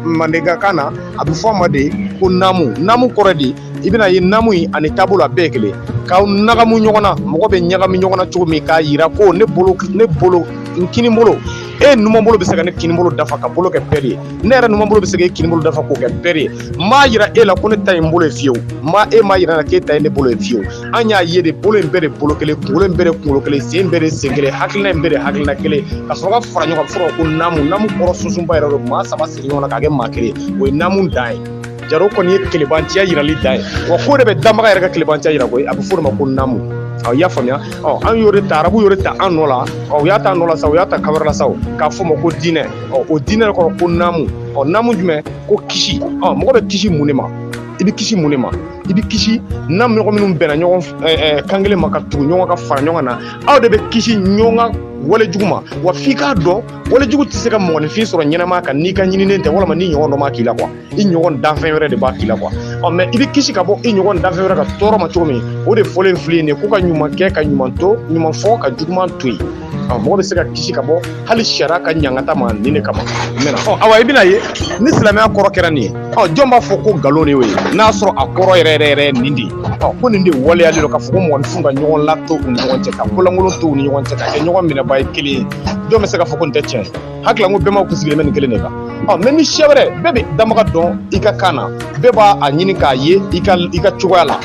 Speaker 1: mandenkakan na a bɛ fɔ o ma de ko namu namu kɔrɔ di i bɛna ye namu in ani taabolo a bɛɛ ye kelen ka ɲagamu ɲɔgɔn na mɔgɔ bɛ ɲagami ɲɔgɔn na cogo min k'a yira ko ne bolo ne bolo n kini bolo e numan bolo bɛ se ka ne kini bolo dafa ka bolo kɛ pɛri ye ne yɛrɛ numan bolo bɛ se ka e kini bolo dafa k'o kɛ pɛri ye m'a yira e la ko ne ta ye i bolo ye fiyewu ma e m'a yira n na k'e ta ye ne bolo ye fiyewu an y'a ye de bolo in bɛɛ de bolo kelen kunkolo in bɛɛ de kunkolo kelen sen bɛɛ de sen kelen hakilina in bɛɛ de hakilina kelen ka sɔrɔ ka fara ɲɔgɔn kan fɔlɔ ko namu namu kɔrɔ sunsunba yɛrɛ don maa saba sigi ɲɔgɔn na k'a kɛ maa kelen o ye namu dan ye jaro kɔni ye kelebanciya yirali dan ye wa ko de bɛ danbaga yɛrɛ ka kelebanciya yira koyi a bɛ fɔ o de ma ko namu aw y'a faamuya ɔ an y'o de ta arabu y'o de ta an nɔ la ɔ u y'a ta nɔ la sa u y'a ta kan wɛrɛ la sa k'a fɔ ma ko diinɛ ɔ o diinɛ de kɔrɔ ko namu ɔ namu jumɛn ko kisi ɔ mɔgɔ bɛ kisi mun de ma i bɛ kisi mun de ma i bɛ kisi n'a mɔgɔ minnu bɛnna ɲɔgɔn kan kelen ma ka tugu ɲɔgɔn ka fara ɲɔgɔn na aw de bɛ kisi ɲɔgɔn ka wale jugu ma wa f'i k'a dɔn wale jugu tɛ se ka mɔgɔninfin sɔrɔ ɲɛnama kan n'i ka ɲininen tɛ walima n'i ɲɔgɔn dɔ m'a k'i la kuwa i ɲɔgɔn danfɛn wɛrɛ de b'a k'i la kuwa ɔ mɛ i bɛ kisi ka bɔ i ɲɔgɔn danfɛn wɛrɛ ka tɔɔrɔ ma cogo min o de fɔlen filɛ ye ko ka ɲuman kɛ ka ɲuman to ɲuman fɔ ka juguman to yen ɔ mɔgɔ bɛ se ka kisi ka bɔ hali sariya ka ɲangata ma nin de kama mɛna ɔ awa i bɛna ye ni silamɛya kɔrɔ kɛra nin ye ɔ jɔn b'a fɔ ko nkalon de y'o ye n'a sɔrɔ a kɔrɔ yɛrɛ yɛrɛ yɛrɛ nin de ye ɔ ko nin de waleyalen don k'a fɔ ko mɔgɔninfinw ka ɲɔgɔn lato u ni ɲɔgɔn cɛ ka ko lankolon to u ni ɲɔgɔn cɛ ka kɛ ɲɔgɔn minɛbaa ye kelen ye jɔn bɛ se k'a fɔ ko nin tɛ tiɲɛ ye ala ko bɛnma kun sigilen bɛ nin kelen de kan mɛ ni siya wɛrɛ bɛɛ bɛ danbaga dɔn i ka kan na bɛɛ b'a a ɲini k'a ye i ka i ka cogoya la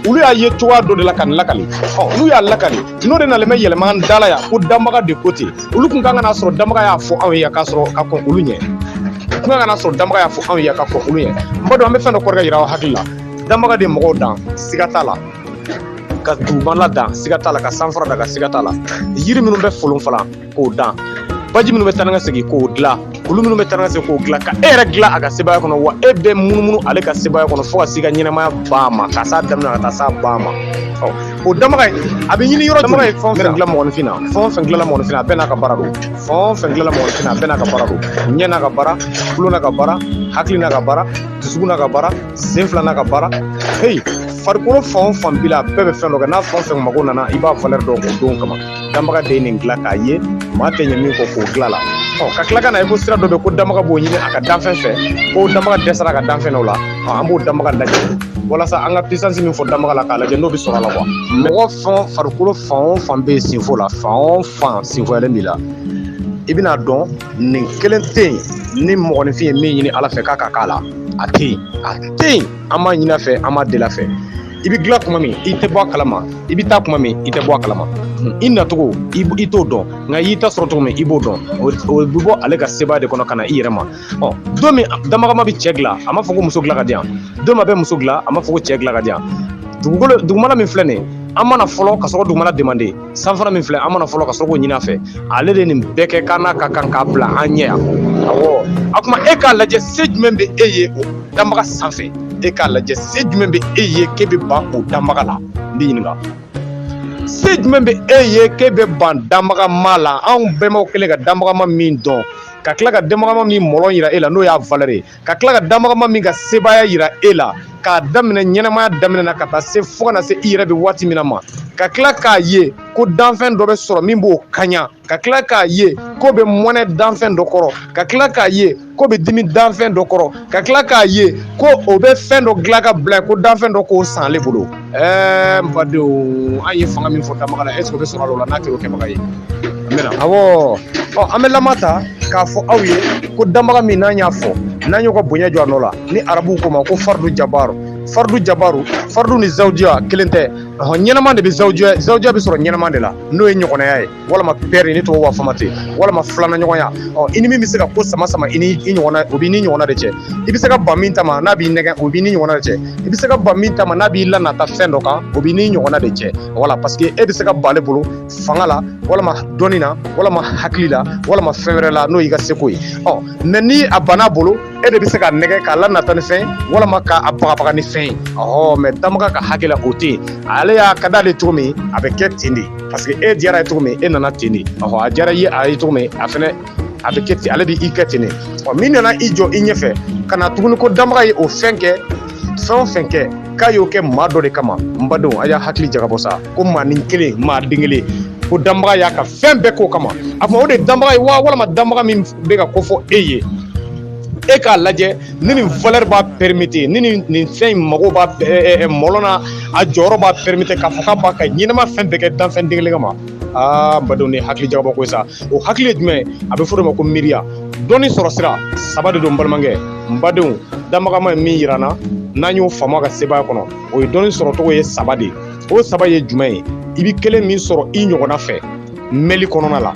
Speaker 1: olu y'a ye cogoya dɔ de la ka nin lakali n'u y'a lakali n'o de nalen bɛ yɛlɛma da la yan ko danbaga de ko ten olu tun ka kan k'a sɔrɔ danbaga y'a fɔ anw ye k'a sɔrɔ ka kɔn olu ɲɛ tun ka kan sɔrɔ danbaga y'a fɔ anw ye ka kɔn olu ɲɛ n b'a dɔn an bɛ fɛn dɔ kɔrɔkɛ yira aw hakili la danbaga de mɔgɔw dan siga t'a la ka dugumala dan siga t'a la ka sanfara da ka siga t'a la yiri minnu bɛ folon falan k'o dan baji minnu bɛ taa ka segin k'o dilan olu minnu bɛ taa ka segin k'o dilan ka e yɛrɛ dilan a ka sebaaya kɔnɔ wa e bɛ munumunu ale ka sebaaya kɔnɔ fo ka se ka ɲɛnamaya ban ma ka s'a daminɛ ka taa s'a ban ma o dama ye a bɛ ɲini yɔrɔ dama ye fɛn fɛn dilan mɔgɔninfin na fɛn fɛn dilan mɔgɔninfin a bɛɛ n'a ka baara don fɛn fɛn dilan mɔgɔninfin a bɛɛ n'a ka baara don ɲɛ n'a ka baara tulo n'a ka baara hakili n'a ka baara dusukun n'a ka baara sen fila n'a ka baara heyi farikolo fan o fan b'i la a bɛɛ bɛ fɛn dɔ kɛ n'a fɛn fɛn mago nana i b'a valɛri dɔn o don kama danbaga de ye nin dilan k'a ye maa tɛ ɲɛ min kɔ k'o dilan la ɔ ka tila ka na ye ko sira dɔ bɛ ko danbaga b'o ɲini a ka danfɛn fɛ ko danbaga dɛsɛra ka danfɛn dɔ la ɔ an b'o danbaga lajɛ walasa an ka pisansi min fɔ danbaga la k'a lajɛ n'o bɛ sɔrɔ a la quoi mɔgɔ fɛn farikolo fan o fan bɛ yen senfo la fan o fan senfoyalen b'i la i bɛna dɔn nin kelen tɛ yen ni mɔgɔninfin ye min ɲini ala fɛ k'a ka k'a la a tɛ yen a tɛ yen an b'a ɲini a fɛ an b'a deli a fɛ i bɛ dilan kuma min i tɛ bɔ a kalama i bɛ taa kuma min i tɛ bɔ a kalama i nacogo i t'o dɔn nka i y'i ta sɔrɔ cogo min i b'o dɔn o bɛ bɔ ale ka sebaaya de kɔnɔ ka na i yɛrɛ ma ɔ don min danbaga ma bɛ cɛ dilan a ma fɔ ko muso dilan ka di yan don min a bɛ muso dilan a ma fɔ ko cɛ dilan ka di yan dugukolo dugumala min filɛ nin ye an ma na fɔlɔ ka sɔrɔ ka dugumala demander san fana min filɛ an ma na fɔlɔ ka sɔrɔ k'o ɲini a fɛ ale de nin bɛɛ kɛ ka na ka kan k'a bila an ɲɛ yan awɔ a kuma e k'a lajɛ se jumɛn bɛ e ye o danbaga sanfɛ e k'a lajɛ se jumɛn bɛ e ye k'e bɛ ban o danbaga la n b'e ɲininka se jumɛn bɛ e ye k'e bɛ ban danbaga ma la anw bɛnbaw kɛlen ka danbaga ma min dɔn ka tila ka danbaga ma min mɔlɔ yira e la n'o y'a valɛri ye ka tila ka danbaga ma min ka sebaaya yira e la k'a daminɛ ɲɛnamaya daminɛ na ka taa se fo ka na se i yɛrɛ bɛ waati min na ma ka tila k'a ye ko danfɛn dɔ bɛ sɔrɔ min b'o kaɲa ka tila k'a ye k'o bɛ mɔnɛ danfɛn dɔ kɔrɔ ka tila k'a ye k'o bɛ dimi danfɛn dɔ kɔrɔ ka tila k'a ye ko o bɛ fɛn dɔ dilan ka bila ko danfɛn dɔ k'o san ale bolo ɛɛ n badenw an ye fanga min fɔ danbaga la est ce que o bɛ sɔrɔ a la o la n'a kɛra o kɛbaga ye an bɛna awɔ ɔ an bɛ lama ta k'a fɔ aw ye ko danbaga min n'an y'a fɔ n'an y'o ka bonya jɔ a nɔ la ni arabuw k'o ma ko fardu jabaru fardu jabaru fardu ni zawujiya kelen tɛ ɔhɔn ɲɛnama de bɛ zawujiya zawujiya bɛ sɔrɔ ɲɛnama de la n'o ye ɲɔgɔnaya ye walima pɛri ni tubabu b'a fɔ ma ten walima filana ɲɔgɔnya ɔ i ni min bɛ se ka ko sama sama i ni i ɲɔgɔnna o b'i ni ɲɔgɔnna de cɛ i bɛ se ka ban min ta ma n'a b'i nɛgɛn o b'i ni ɲɔgɔnna de cɛ i bɛ se ka ban min ta ma n'a b'i lanata fɛn dɔ kan o b'i ni ɲɔgɔnna de cɛ wala parce que e bɛ se ka ban ale bolo fanga la walima dɔnni na walima hakili la walima fɛn wɛrɛ la n'o y'i ka seko ye ɔ mɛ ni a banna bolo e de bɛ se k'a nɛgɛn k'a lanata ni fɛn walima k'a bagabaga ni fɛn ye ɔhɔ mɛ danbaga ka hakɛ la o tɛ yen ale y'a ka d'ale cogo min a bɛ kɛ ten de parce que e diyara a ye cogo min e nana ten de ɔhɔ a diyara ye a ye cogo min a fɛnɛ a bɛ kɛ ten ale bɛ i kɛ ten de ɔ min nana i jɔ i ɲɛfɛ ka na tuguni ko danbaga ye o fɛn kɛ fɛn o fɛn kɛ k'a y'o kɛ maa dɔ de kama n badenw a y'aw hakili jagabɔ sa ko maa nin kelen maa den kelen ko danbaga y'a ka fɛn bɛɛ k'o kama a tuma o de danbaga ye wa walima danbaga min bɛ ka ko fɔ e ye e k'a lajɛ ni nin valeur b'a permettre ni nin nin fɛn in mago b'a ɛ- ɛ- ɛ, mɔlɔ na a jɔyɔrɔ b'a permettre k'a fɔ k'a b'a ka ɲɛnama fɛn bɛɛ kɛ danfɛn den kelen kama aa n badenw ni hakili jagabɔ ko ye sa o hakili ye jumɛn ye a bɛ fɔ o de ma ko miiriya dɔnni sɔrɔ sira saba de don n balimakɛ n badenw danbagama ye min yira n na n'an y'o faamu a ka sebaaya kɔnɔ o ye dɔnni sɔrɔcogo ye saba de ye o saba ye jumɛn ye i bɛ kelen min sɔrɔ i ɲɔgɔnna fɛ mɛli kɔnɔna la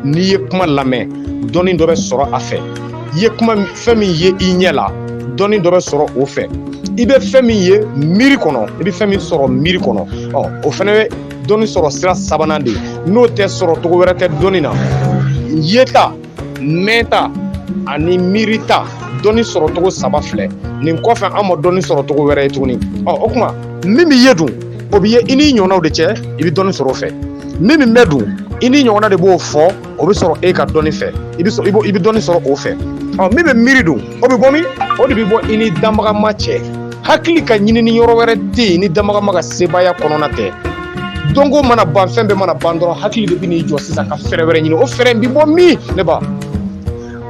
Speaker 1: n'i ye kuma lamɛn dɔnni dɔ bɛ sɔrɔ a fɛ i ye kuma fɛn min ye i ɲɛ la dɔnni dɔ bɛ sɔrɔ o fɛ i bɛ fɛn min ye miiri kɔnɔ i bɛ fɛn min sɔrɔ miiri kɔnɔ ɔ o fana bɛ dɔnni sɔrɔ sira sabanan de ye n'o tɛ sɔrɔcogo wɛrɛ tɛ dɔnni na yeta mɛnta ani miirita dɔnni sɔrɔcogo saba filɛ nin kɔfɛ an ma dɔnni sɔrɔcogo wɛrɛ ye tuguni ɔ o tuma min bɛ ye dun o bɛ ye i n'i ɲɔgɔnnaw de cɛ i bɛ dɔnni sɔrɔ o fɛ min bɛ mɛn dun i n'i ɲɔgɔnna de b'o fɔ o bɛ sɔrɔ e ka dɔnni fɛ i bɛ i bɛ dɔnni sɔrɔ o fɛ ɔ min bɛ miiri dun o bɛ bɔ min o de bɛ bɔ i ni danbagama cɛ hakili ka ɲinini yɔrɔ wɛrɛ tɛ yen ni danbagama ka sebaaya kɔnɔna tɛ dɔnko mana ban fɛn bɛɛ mana ban dɔrɔn hakili de bɛ n'i jɔ sisan ka fɛɛrɛ wɛrɛ ɲini o fɛɛrɛ in bɛ bɔ min ne ba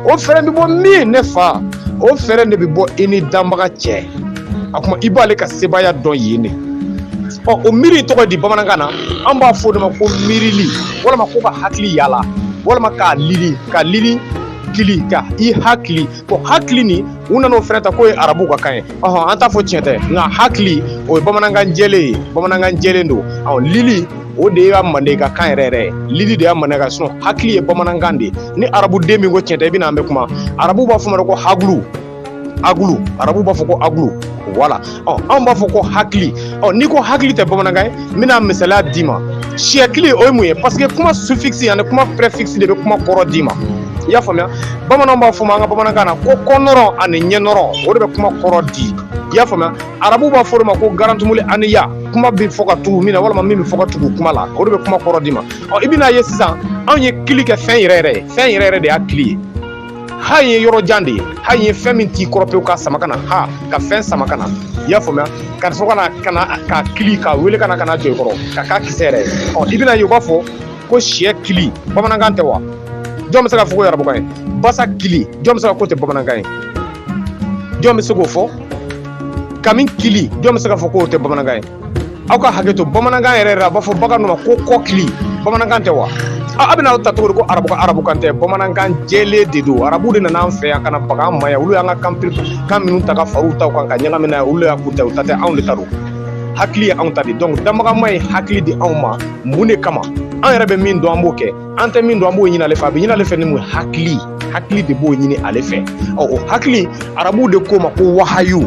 Speaker 1: o fɛɛrɛ bɛ bɔ min ne fa o fɛɛrɛ de bɛ bɔ i ni danbaga cɛ a kuma i b'ale ka sebaaya dɔn yen de ɔ o miiri tɔgɔ di bamanankan na an b'a fɔ o de ma ko miirili walima ko ka hakili yaala walima k'a lili ka lili hakili ka i hakili ko hakili nin u nan'o fɛnɛ ta k'o ye arabu ka kan ye ɔhɔn an t'a fɔ tiɲɛ tɛ nka hakili o ye bamanankan jɛlen ye bamanankan jɛlen don ɔ lili o de y'a mandenka kan yɛrɛ yɛrɛ ye lili de y'a mandenka sinon hakili ye bamanankan de ye ni arabuden min ko tiɲɛ tɛ i bɛna an bɛ kuma arabu b'a fɔ ma ko hagulu agulu arabu b'a fɔ ko agulu wala ɔ anw b'a fɔ ko hakili ɔ n'i ko hakili tɛ bamanankan ye n bɛna misaliya d'i ma siyɛkili o ye mun ye parce que kuma suffixe ani kuma préfixe de bɛ kuma kɔrɔ d'i ma i y'a faamuya bamananw b'a fɔ o ma an ka bamanankan na ko kɔnɔrɔ ani ɲɛnɔrɔ o de bɛ kuma kɔrɔ di i y'a faamuya arabu b'a fɔ o de ma ko garantumuli ani ya kuma bɛ fɔ ka tugu min na walima min bɛ fɔ ka tugu kuma la o de bɛ kuma kɔrɔ d'i ma ɔ i bɛn'a ye sisan anw ye kili kɛ fɛn yɛrɛ yɛrɛ ye fɛn yɛrɛ yɛrɛ de y'a kili ye ha ye yɔrɔ jan de ye ha ye fɛn min t'i kɔrɔ pewu ka sama ka na ha ka fɛn sama ka na i y'a faamuya ka sɔrɔ ka na ka na ka kili ka wele ka na ka na jɔ i kɔrɔ ka k'a kisɛ yɛrɛ ye ɔ i bɛn'a ye u b'a fɔ ko siyɛ kili bamanankan tɛ wa jɔn bɛ se k'a fɔ k'o y'arabukan ye basa kili jɔn bɛ se ka k'o tɛ bamanankan ye jɔn bɛ se k'o fɔ kami kili jɔn bɛ se k'a fɔ k'o tɛ bamanankan ye aw ka hakɛ to bamanankan yɛrɛ a b'a fɔ bagan dɔ ma ko kɔkili bamanankan tɛ wa aw bɛna a ta cogo di ko arabu ka arabukan tɛ bamanankan jɛlen de don arabu de nana an fɛ yan ka na baga an ma yan olu y'an ka kan kan minnu ta ka fara u ta kan ka ɲagami n'a ye olu y'a k'u ta u ta tɛ anw de ta don hakili ye anw ta de donc danbagama ye hakili di anw ma mun de kama an yɛrɛ bɛ min dɔn an b'o kɛ an tɛ min dɔn an b'o ɲini ale fɛ a bɛ ɲini ale fɛ ni mun ye hakili hakili de b'o ɲini ale fɛ ɔ o hakili arabuw de k'o ma ko wahayu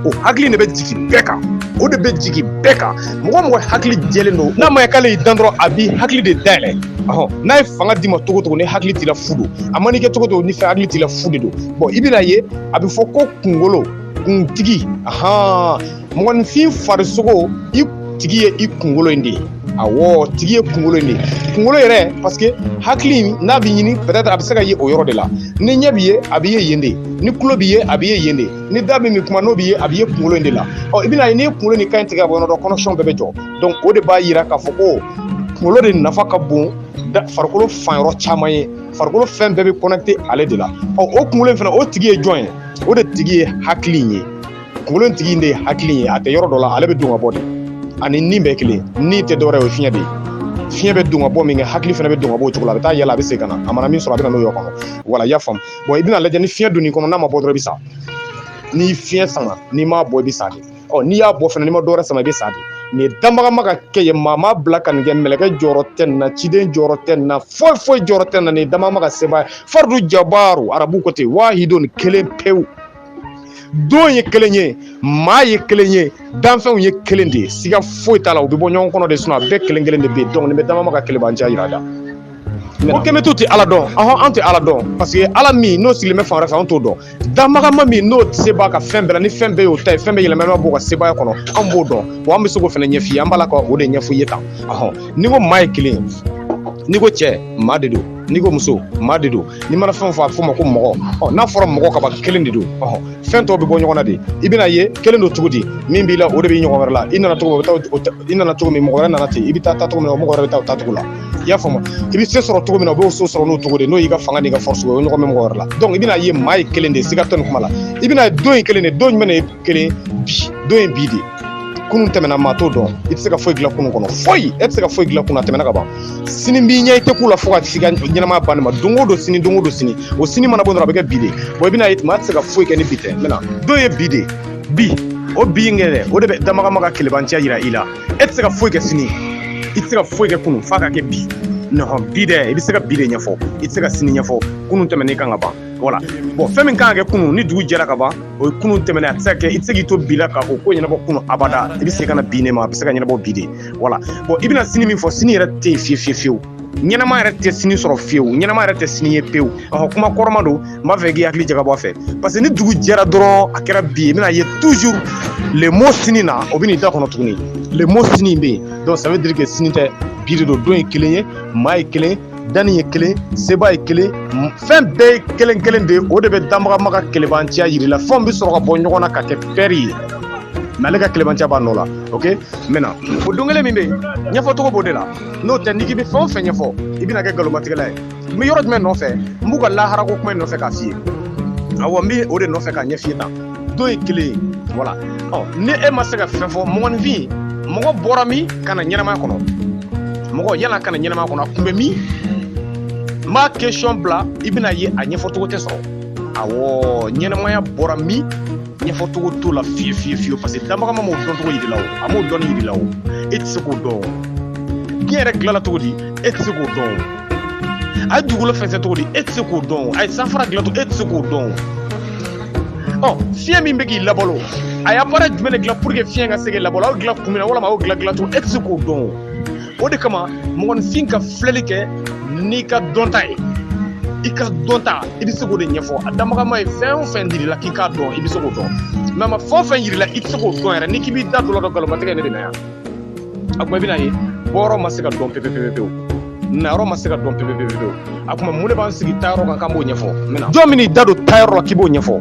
Speaker 1: o hakili de bɛ jigin bɛɛ kan o de bɛ jigin bɛɛ kan mɔgɔ o mɔgɔ hakili jɛlen don n'a ma ye k'ale y'i dan dɔrɔn a b'i hakili de dayɛlɛ ɔhɔn n'a ye fanga d'i ma cogo o cogo ni hakili t'i la fu don a man'i kɛ cogo o cogo ni fɛn hakili t'i la fu de don bon i bɛna ye a bɛ fɔ ko kunkolo kuntigi ahan mɔgɔninfin farisogo in tigi ye i kunkolo in de ye awɔ tigi ye kunkolo in de ye kunkolo yɛrɛ parce que hakili n'a bɛ ɲini peut-être a bɛ se ka ye o yɔrɔ de la ni ɲɛ b'i ye a bɛ ye yen de ni tulo b'i ye a bɛ ye yen de ni da min bɛ kuma n'o b'i ye a bɛ ye kunkolo in de la ɔ i bɛna ye n'i ye kunkolo ni kan in tigɛ ka bɔ yɔrɔ dɔ connexion bɛɛ bɛ jɔ donc o de b'a yira k'a fɔ ko kunkolo de nafa ka bon farikolo fan yɔrɔ caman ye farikolo fɛn bɛɛ bɛ connecté ale de la ɔ o kunkolo in fana o tigi ye jɔn ye o de tigi ye hakili in ye kunkolo tigi in de ye hakili ye a tɛ yɔrɔ dɔ la ale bɛ don ka bɔ de a ni ni bɛɛ kelen ni tɛ dɔwɛrɛ o fiɲɛ de ye fiɲɛ bɛ don ka bɔ min kɛ hakili fana bɛ don ka bɔ o cogo la a bɛ taa yɛlɛ a bɛ segin ka na a mana min sɔrɔ a bɛ na n'o yɔrɔ kɔnɔ voilà i y'a faamu bon i bɛn'a lajɛ ni fiɲɛ donn'i kɔnɔ n'a ma bɔ dɔrɔn i bɛ sa ni fiɲɛ sama n'i m'a bɔ i bɛ sa de ɔ n'i y'a bɔ fana n'i ma dɔwɛrɛ sama i bɛ sa de nin danbagama ka kɛ ye maa ma bila ka nin kɛ mɛlɛkɛ jɔyɔrɔ tɛ nin na ciden jɔyɔrɔ tɛ nin na foyi foyi jɔyɔrɔ tɛ nin na nin danbagama ka sebaaya fardu jabaru arabu ko ten wahidun kelen pewu don ye kelen ye maa ye kelen ye danfɛnw ye kelen de ye siga foyi t'a la u bɛ bɔ ɲɔgɔn kɔnɔ de sun a bɛɛ kelen kelen de bɛ yen donc nin bɛ damagama ka kelebanciya jira i la ko kɛmɛtiw tɛ ala dɔn ahɔn an tɛ ala dɔn parce que ala min n'o sigilen bɛ fan wɛrɛ fɛ an t'o dɔn damagama min n'o de se b'a ka fɛn bɛɛ la ni fɛn bɛɛ y'o ta ye fɛn bɛɛ yɛlɛmama b'o ka sebaaya kɔnɔ an b'o dɔn wa an bɛ se k'o fana ɲɛf'i ye an b'a la ka o de ɲɛf'i ye tan ahɔn n'i ko maa ye kelen n'i ko cɛ maa de don n'i ko muso maa de don n'i mana fɛn fɔ a fɔ ma ko mɔgɔ ɔ n'a fɔra mɔgɔ ka ban kelen de don ɔhɔn fɛn tɔw bɛ bɔ ɲɔgɔn na de i bɛna ye kelen don cogo di min b'i la o de bɛ mɔgɔ wɛrɛ la i nana cogo min o bɛ taa o ta- i nana cogo min mɔgɔ wɛrɛ nana ten i bɛ taa taa cogo min na o mɔgɔ wɛrɛ bɛ taa o taa cogo la i y'a faamu i bɛ se sɔrɔ cogo min na o b'o se sɔrɔ n'o cogo de n'o y'i ka fanga n'i ka force ye o de ɲɔgɔn bɛ mɔgɔ wɛrɛ la donc i bɛna ye maa ye kelen de ye siga tɛ nin kuma la i bɛna ye don ye kelen de ye don jumɛn de ye kelen bi don in bi de kunun tɛmɛna maa t'o dɔn i tɛ se ka foyi dilan kunun kɔnɔ foyi e tɛ se ka foyi dilan kunun tɛmɛna ka ban sini b'i ɲɛ i tɛ kun a la fo ka s'i ka ɲɛnamaya banni ma don o don sini don o don sini o sini mana bɔ dɔrɔn a bɛ kɛ bi de bon i bɛna ye maa tɛ se ka foyi kɛ ni bi tɛ n bɛna don ye bi de bi o bi in kɛ dɛ o de bɛ damagama ka kelebanciya jira i la e tɛ se ka foyi kɛ sini i tɛ se ka foyi kɛ kunun f'a ka kɛ bi non bi dɛ i bɛ se ka bi de ɲɛfɔ i tɛ se ka sini ɲɛfɔ kunun tɛmɛn'i kan ka ban voilà bon fɛn min kan ka kɛ kunun ni dugu jɛra ka ban o ye kunun tɛmɛnen a tɛ se ka kɛ i tɛ se k'i to bi la ka o ko ɲɛnabɔ kunun abada i bɛ se ka na bi de ma a bɛ se ka ɲɛnabɔ bi de voilà bon i bɛna sini min fɔ sini yɛrɛ tɛ yen fiye fiye fiyewu ɲɛnama yɛrɛ tɛ sini sɔrɔ fiyewu ɲɛnama yɛrɛ tɛ sini ye pewu ɔhɔ kuma kɔrɔma don n b'a fɛ k'i hakili jagabɔ a fɛ parce que ni dugu jɛra dɔrɔn a kɛra bi ye i bɛna ye toujours le mot sini na o bɛ n'i da kɔnɔ tuguni le mot sini bɛ yen donc ça veut dire que sini tɛ bi de don don ye kelen ye maa ye kelen danni ye kelen seba ye kelen fɛn bɛɛ ye kelen kelen de ye o de bɛ danbagama ka kelebanciya yir'i la fɛnw bɛ sɔrɔ ka bɔ ɲɔgɔn na ka kɛ pɛri ye mais ale ka kelebanciya b'a nɔ la ok maintenant o don kelen min bɛ yen ɲɛfɔcogo b'o de la n'o tɛ n'i k'i bɛ fɛn o fɛn ɲɛfɔ i bɛna kɛ nkalonmatigɛla ye n bɛ yɔrɔ jumɛn nɔfɛ n b'u ka laharako kuma in nɔfɛ k'a f'i ye awɔ n bɛ o de nɔfɛ k'a ɲɛf'i ye tan don ye kelen ye voilà ɔ ni e ma se ka fɛn fɔ mɔgɔninfin mɔgɔ bɔra min ka na ɲɛnamaya kɔnɔ mɔgɔ nana ka na ɲɛnamaya kɔnɔ a kun bɛ min n b'a question bila i bɛna ye a ɲɛfɔcogo tɛ sɔrɔ awɔ ɲɛnamaya bɔra min ɲɛfɔcogo t'o la fiye fiye fiye parce que danbagama m'o dɔncogo yir'i la o a m'o dɔnni yir'i la o e tɛ se k'o dɔn o diɲɛ yɛrɛ dilanna cogo di e tɛ se k'o dɔn o a ye dugukolo fɛnsɛ cogo di e tɛ se k'o dɔn a ye sanfara dilan cogo e tɛ se k'o dɔn ɔ fiɲɛ min bɛ k'i labalo a y'a baara jumɛn de dilan pour que fiɲɛ ka se k'i labalo a y'o dilan kun min na walima a y'o dilan dilan cogo e tɛ se k'o dɔn o de kama mɔgɔninfin ka filɛli kɛ n'i ka dɔnta ye i ka dɔnta i bɛ se k'o de ɲɛfɔ a danbagama ye fɛn o fɛn yir'i la k'i k'a dɔn i bɛ se k'o dɔn mais a ma fɛn o fɛn yir'i la i tɛ se k'o dɔn yɛrɛ n'i k'i b'i da don o la dɔrɔn nkalonmatigɛ ye ne de la yan a kuma i bɛna ye bɔyɔrɔ ma se ka dɔn pepepepepewu nayɔrɔ ma se ka dɔn pepepepepewu a kuma mun de b'an sigi taayɔrɔ kan k'an b'o ɲɛfɔ i n'i jɔ min n'i da don taayɔrɔ la k'i b'o ɲɛfɔ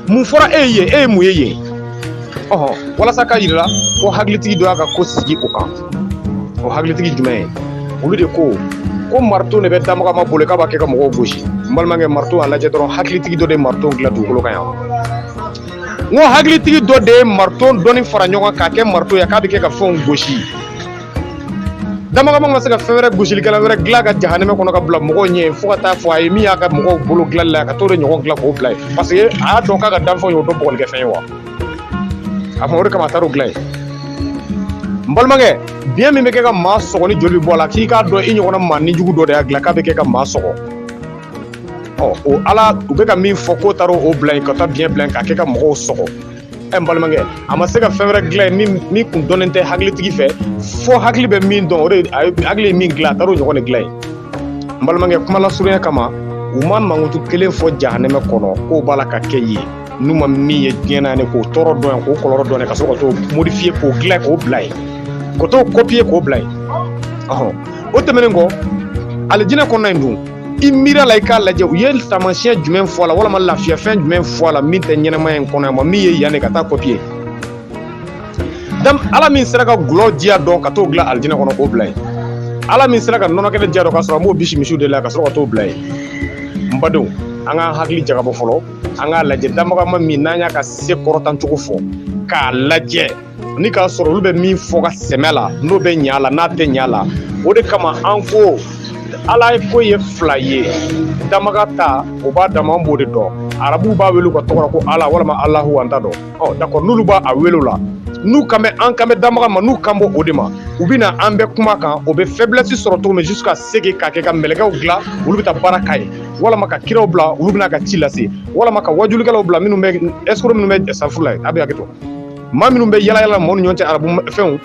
Speaker 1: mun fɔra e ye yen e ye mun ye yen ɔhɔn walasa k'a yir'i la ko hakilitigi dɔ y'a ka ko sigi o kan o hakilitigi jumɛn ye olu de ko ko marito de bɛ danbagama bolo k'a b'a kɛ ka mɔgɔw gosi n balimakɛ marito a lajɛ dɔrɔn hakilitigi dɔ de ye marito dilan dugukolo kan yan n ko hakilitigi dɔ de ye marito dɔɔni fara ɲɔgɔn k'a kɛ marito ye k'a bɛ kɛ ka fɛnw gosi danbagama ma se ka fɛn wɛrɛ gosilikɛlan wɛrɛ dilan ka jahanɛmɛ kɔnɔ ka bila mɔgɔw ɲɛ fo ka taa fɔ a ye min y'a ka mɔgɔw bolo dilanli la ka t'o de ɲɔgɔn dilan k'o bila yen parce que a y'a dɔn k'a ka danfɛnw y'o dɔn bugɔlikɛfɛn ye wa a kuma o de kama a taar'o dilan yen n balimakɛ biɲɛ min bɛ kɛ ka maa sɔgɔ ni joli bɛ bɔ a la k'i k'a dɔn i ɲɔgɔnna maa nijugu dɔ de y'a dilan k'a bɛ kɛ ka maa sɔgɔ ɔ o ala u bɛ ka min fɔ k'o taara o bila yen ka taa biɲɛ bila yen k'a kɛ ka mɔgɔw sɔgɔ ɛ n balimakɛ a ma se ka fɛn wɛrɛ dilan yen min min kun dɔnnen tɛ hakilitigi fɛ fo hakili bɛ min dɔn o de a ye hakili ye min dilan a taara o ɲɔgɔn de dilan yen n balimakɛ kuma lasurunya kama u ma mankutu kelen fɔ jahanɛmɛ kɔnɔ k'o b'a la ka kɛ yen n'u ma min ye diɲɛ na ni k'o tɔɔrɔ dɔn yan k'o kɔlɔlɔ dɔn yan ka sɔrɔ ka t'o modifiye k'o dilan k'o bila yen ka t'o kɔpiye k'o bila yen ɔhɔn o tɛmɛnen kɔ alijinɛ kɔnɔna in dun i miiri a la i k'a lajɛ u ye taamasiyɛn jumɛn fɔ a la walama lafiyafɛn jumɛn fɔ a la min tɛ ɲɛnamaya in kɔnɔ yan ma min ye yan de ka taa kɔpiye ala min sera ka gulɔ diya dɔn ka t'o dilan alijinɛ kɔnɔ k'o bila yen ala min sera ka nɔnɔkɛnɛ diya dɔn ka sɔrɔ an b'o bisi misiw de la ka sɔrɔ ka t'o bila yen n badenw an k'an hakili jagabɔ fɔlɔ an k'a lajɛ danbaga maa min n'an y'a ka se kɔrɔtacogo fɔ k'a lajɛ ni k'a sɔrɔ olu bɛ min fɔ ka sɛmɛ a la n'o bɛ ɲa la n'a tɛ ɲa la o de kama an ko ala ko ye fila ye danbaga ta o b'a dama an b'o de dɔn arabuw b'a wele ka tɔgɔ ko ala walima alahu an t'a dɔn ɔ dakɔ n'olu b'a a wele la n'u kan bɛ an kan bɛ danbaga ma n'u kan b'o de ma u bɛ na an bɛ kuma kan o bɛ faiblesse sɔrɔ cogo min ka sege k'a kɛ ka mɛlɛkɛw dilan olu bɛ taa baara k'a ye walama ka kiraw bila olu bɛna ka ci lase walama ka wajulikɛlaw bila minnu bɛ ɛsoro minnu bɛ safu la ye a bɛ hakɛ to maa minnu bɛ yala yala mɔgɔw ni ɲɔgɔn cɛ arabu fɛnw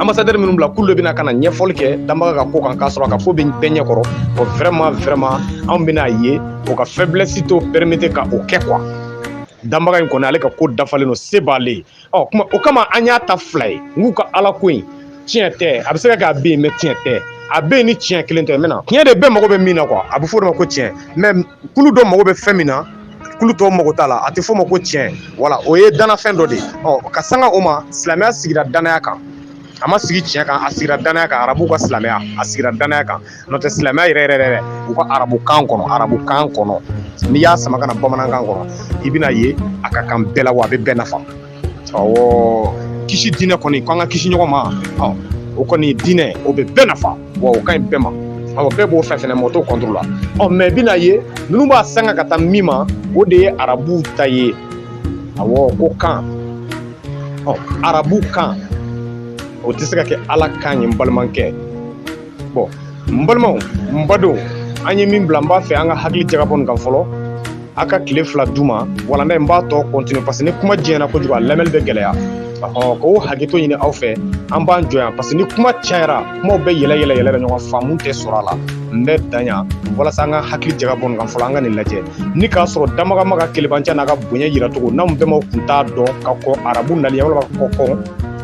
Speaker 1: ambassadeur minnu b'a la k'olu de bɛna ka na ɲɛfɔli kɛ danbaga ka ko kan k'a sɔrɔ a ka ko bɛ bɛɛ ɲɛ kɔrɔ o vraiment vraiment anw bɛna a ye o ka faiblesse t'o permettre ka o kɛ quoi danbaga in kɔni ale ka ko dafalen don se b'ale ye ɔ kuma o kama an y'a ta fila ye n k'u ka ala ko in tiɲɛ tɛ a bɛ se ka kɛ a bɛ yen mɛ tiɲɛ tɛ a bɛ yen ni tiɲɛ kelen tɛ mɛ na tiɲɛ de bɛɛ mago bɛ min na kuwa a bɛ fɔ o de ma ko tiɲɛ mɛ kulu dɔ mago bɛ fɛn min na kulu tɔw mago t'a la a tɛ fɔ o ma ko tiɲɛ wala o ye danafɛn dɔ de ye ɔ ka sanga o ma silamɛya sigira danaya kan a ma sigi tiɲɛ kan a sigira danaya kan arabu ka silamɛya a sigira danaya kan n'o tɛ silamɛya yɛrɛ yɛrɛ yɛrɛ u ka arabu kan kɔnɔ arabu kan kɔnɔ n'i y'a sama ka na bamanankan kɔnɔ i bɛn'a ye a ka kan bɛɛ la wa a bɛ bɛɛ nafa ɔ kisi diinɛ kɔni ko an ka kisi ɲɔgɔn ma o kɔni diinɛ o bɛ bɛɛ nafa wa o ka ɲi bɛɛ ma awɔ bɛɛ b'o fɛ fɛnɛ mɔgɔ t'o kɔntoro la ɔ mɛ i bɛn'a ye ninnu b'a sanga ka taa min ma o de ye arabuw ta ye awɔ ko kan ɔ arabu kan o tɛ se ka kɛ ala kan ye n balimakɛ bɔn n balimaw n badenw an ye min bila n b'a fɛ an ka hakili jagabɔ nin kan fɔlɔ an ka tile fila d'o ma walanda in b'a tɔ kɔntinu parce que ni kuma janyana kojugu a lamɛnni bɛ gɛlɛya ɔhɔn k'o hakɛto ɲini aw fɛ an b'an jɔ yan parce que ni kuma cayara kumaw bɛ yɛlɛ yɛlɛ yɛlɛ bɛ ɲɔgɔn faamu tɛ sɔrɔ a la n bɛ dan yan walasa an ka hakili jagabɔ nin kan fɔlɔ an ka nin lajɛ ni k'a sɔrɔ danbaga maa ka kelebanciya n'a ka bonya yira cogo n'anw bɛnbaw kun t'a dɔn ka kɔn arabu nali walima ka kɔn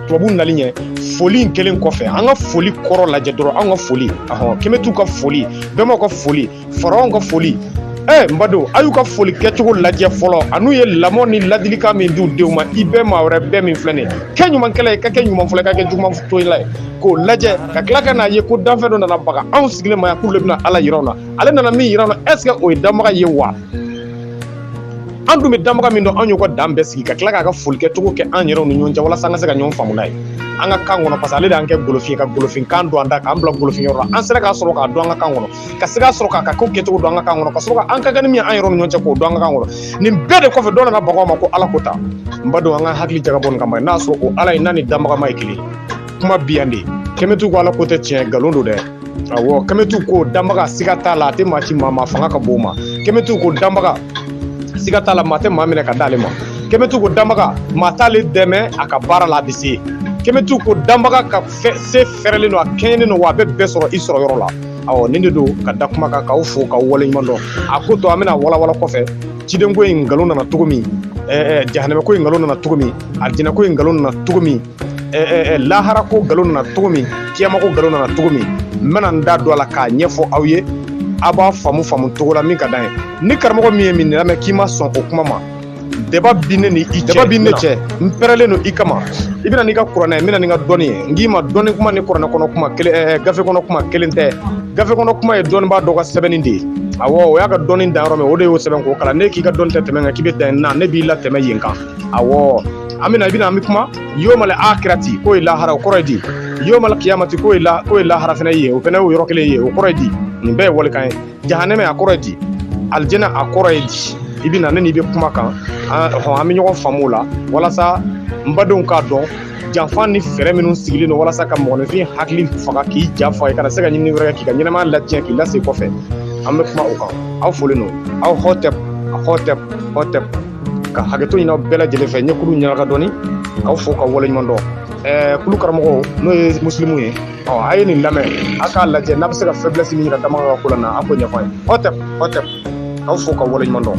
Speaker 1: tubabu nali ɲɛ foli in kɛlen kɔfɛ an ka foli kɔrɔ lajɛ dɔrɔn an ka foli ahɔn kemetiw ka foli bɛnbaw ka foli faraw ka foli ɛ eh, n badenw a y'u ka foli kɛcogo lajɛ fɔlɔ an'u ye lamɔ ni ladilikan min di u denw ma i bɛɛ maa wɛrɛ bɛɛ min filɛ nin ye kɛ ɲumankɛla ye ka kɛ ɲuman fɔlɔ ka kɛ juguman tola ye k'o lajɛ ka tila ka n'a ye ko danfɛn dɔ nana baga anw sigilen ma yan k'u le bɛna ala yira anw na ale nana min yira an na ɛseke o ye danbaga ye wa an dun bɛ danbaga min dɔn an y'o ka dan bɛɛ sigi ka tila k'a ka foli kɛcogo kɛ an yɛrɛw ni ɲɔgɔn cɛ walasa an ka se ka ɲɔgɔn faamu n'a ye an ka kan kɔnɔ parce que ale de y'an kɛ golofin ka golofin kan don an da k'an bila golofin yɔrɔ la an sera k'a sɔrɔ k'a dɔn an ka kan kɔnɔ ka se k'a sɔrɔ k'a ka ko kɛcogo dɔn an ka kan kɔnɔ ka sɔrɔ ka an ka kɛnɛ min an yɛrɛw ni ɲɔgɔn cɛ k'o dɔn an ka kan kɔnɔ nin bɛɛ de kɔfɛ dɔ nana baga aw ma ko ala ko ta n b'a dɔn an ka hakili jagabɔ nin kama n'a sɔrɔ o ala ye n'a ni danbagama ye kelen kuma bi yan de kɛmɛtu ko ala ko tɛ tiɲɛ nkalon don dɛ Awɔ kɛmɛtu ko danbaga siga t'a la a tɛ maa ci maa ma fanga ka bon ma kɛmɛtu ko danbaga siga t'a la maa tɛ maa minɛ ka d'ale ma kɛmɛtu ko danbaga maa t'ale dɛmɛ a ka baara la a bɛ se kɛmɛtu ko danbaga ka se fɛrɛlen don a kɛɲɛnen don wa a bɛ bɛɛ sɔrɔ i sɔrɔ yɔrɔ la awɔ nin de don ka da kuma kan k'aw fo k'aw waleɲuman dɔn a ko tɔ an bɛna walawala kɔfɛ cidenko in nkalon nana cogo min jahanamɛko in nkalon nana cogo min alijinɛko in nkalon nana cogo min lahara ko nkalon nana cogo min kiyama ko nkalon nana cogo min n bɛna n da don a la k'a ɲɛfɔ aw ye a b'a faamu faamu cogo la min ka d'an ye ni karamɔgɔ min ye nin lamɛn k'i ma sɔn o kuma ma débat bi ne ni i cɛ débat bi ne cɛ n pɛrɛlen don i kama i bɛ na n'i ka kuranɛ n bɛ na ni n ka dɔnni ye n k'i ma dɔnni kuma ni kuranɛ kɔnɔ kuma kelen ɛɛ gafe kɔnɔ kuma kelen tɛ gafe kɔnɔ kuma ye dɔnnibaa dɔ ka sɛbɛnni de ye awɔ o y'a ka dɔnni dan yɔrɔ min o de y'o sɛbɛn k'o kalan ne k'i ka dɔnni tɛ tɛmɛ kan k'i bɛ dan yen na ne b'i latɛmɛ yen kan awɔ an bɛna i bɛna an bɛ kuma yomal akirati k'o ye lahara o kɔrɔ ye di yomal kiyamati k'o ye la k'o ye lahara fana ye o fana y'o yɔrɔ kelen ye o kɔrɔ ye di nin bɛɛ ye walikan ye jahanɛmɛ a kɔrɔ ye di alijɛnɛ a kɔrɔ ye di i bɛ na ne n'i bɛ kuma kan hɔn an bɛ ɲɔgɔn faamu o la walasa n badenw k'a dɔn janfa ni fɛɛrɛ minnu sigilen don walasa ka mɔgɔninfin hakili faga k'i ja fɔ i kana se ka ɲinini wɛrɛ kɛ k'i ka ɲɛnamaya latiɲɛ k'i lase kɔfɛ an bɛ kuma o kan aw folen don aw hɔtɛp hɔtɛp hɔtɛp ka hakɛto ɲini aw bɛɛ lajɛlen fɛ ɲɛkulu ɲɛnaka dɔɔni k'aw fo k'aw waleɲuman dɔn ɛɛ kulu karamɔgɔ n'o ye musilimu ye ɔ a ye nin lamɛn a k'a lajɛ n'a bɛ se ka faiblesse min jira danbaga ka ko la na a k'o ɲɛfɔ a ye hɔtɛp hɔtɛp k'aw fo k'aw waleɲuman dɔn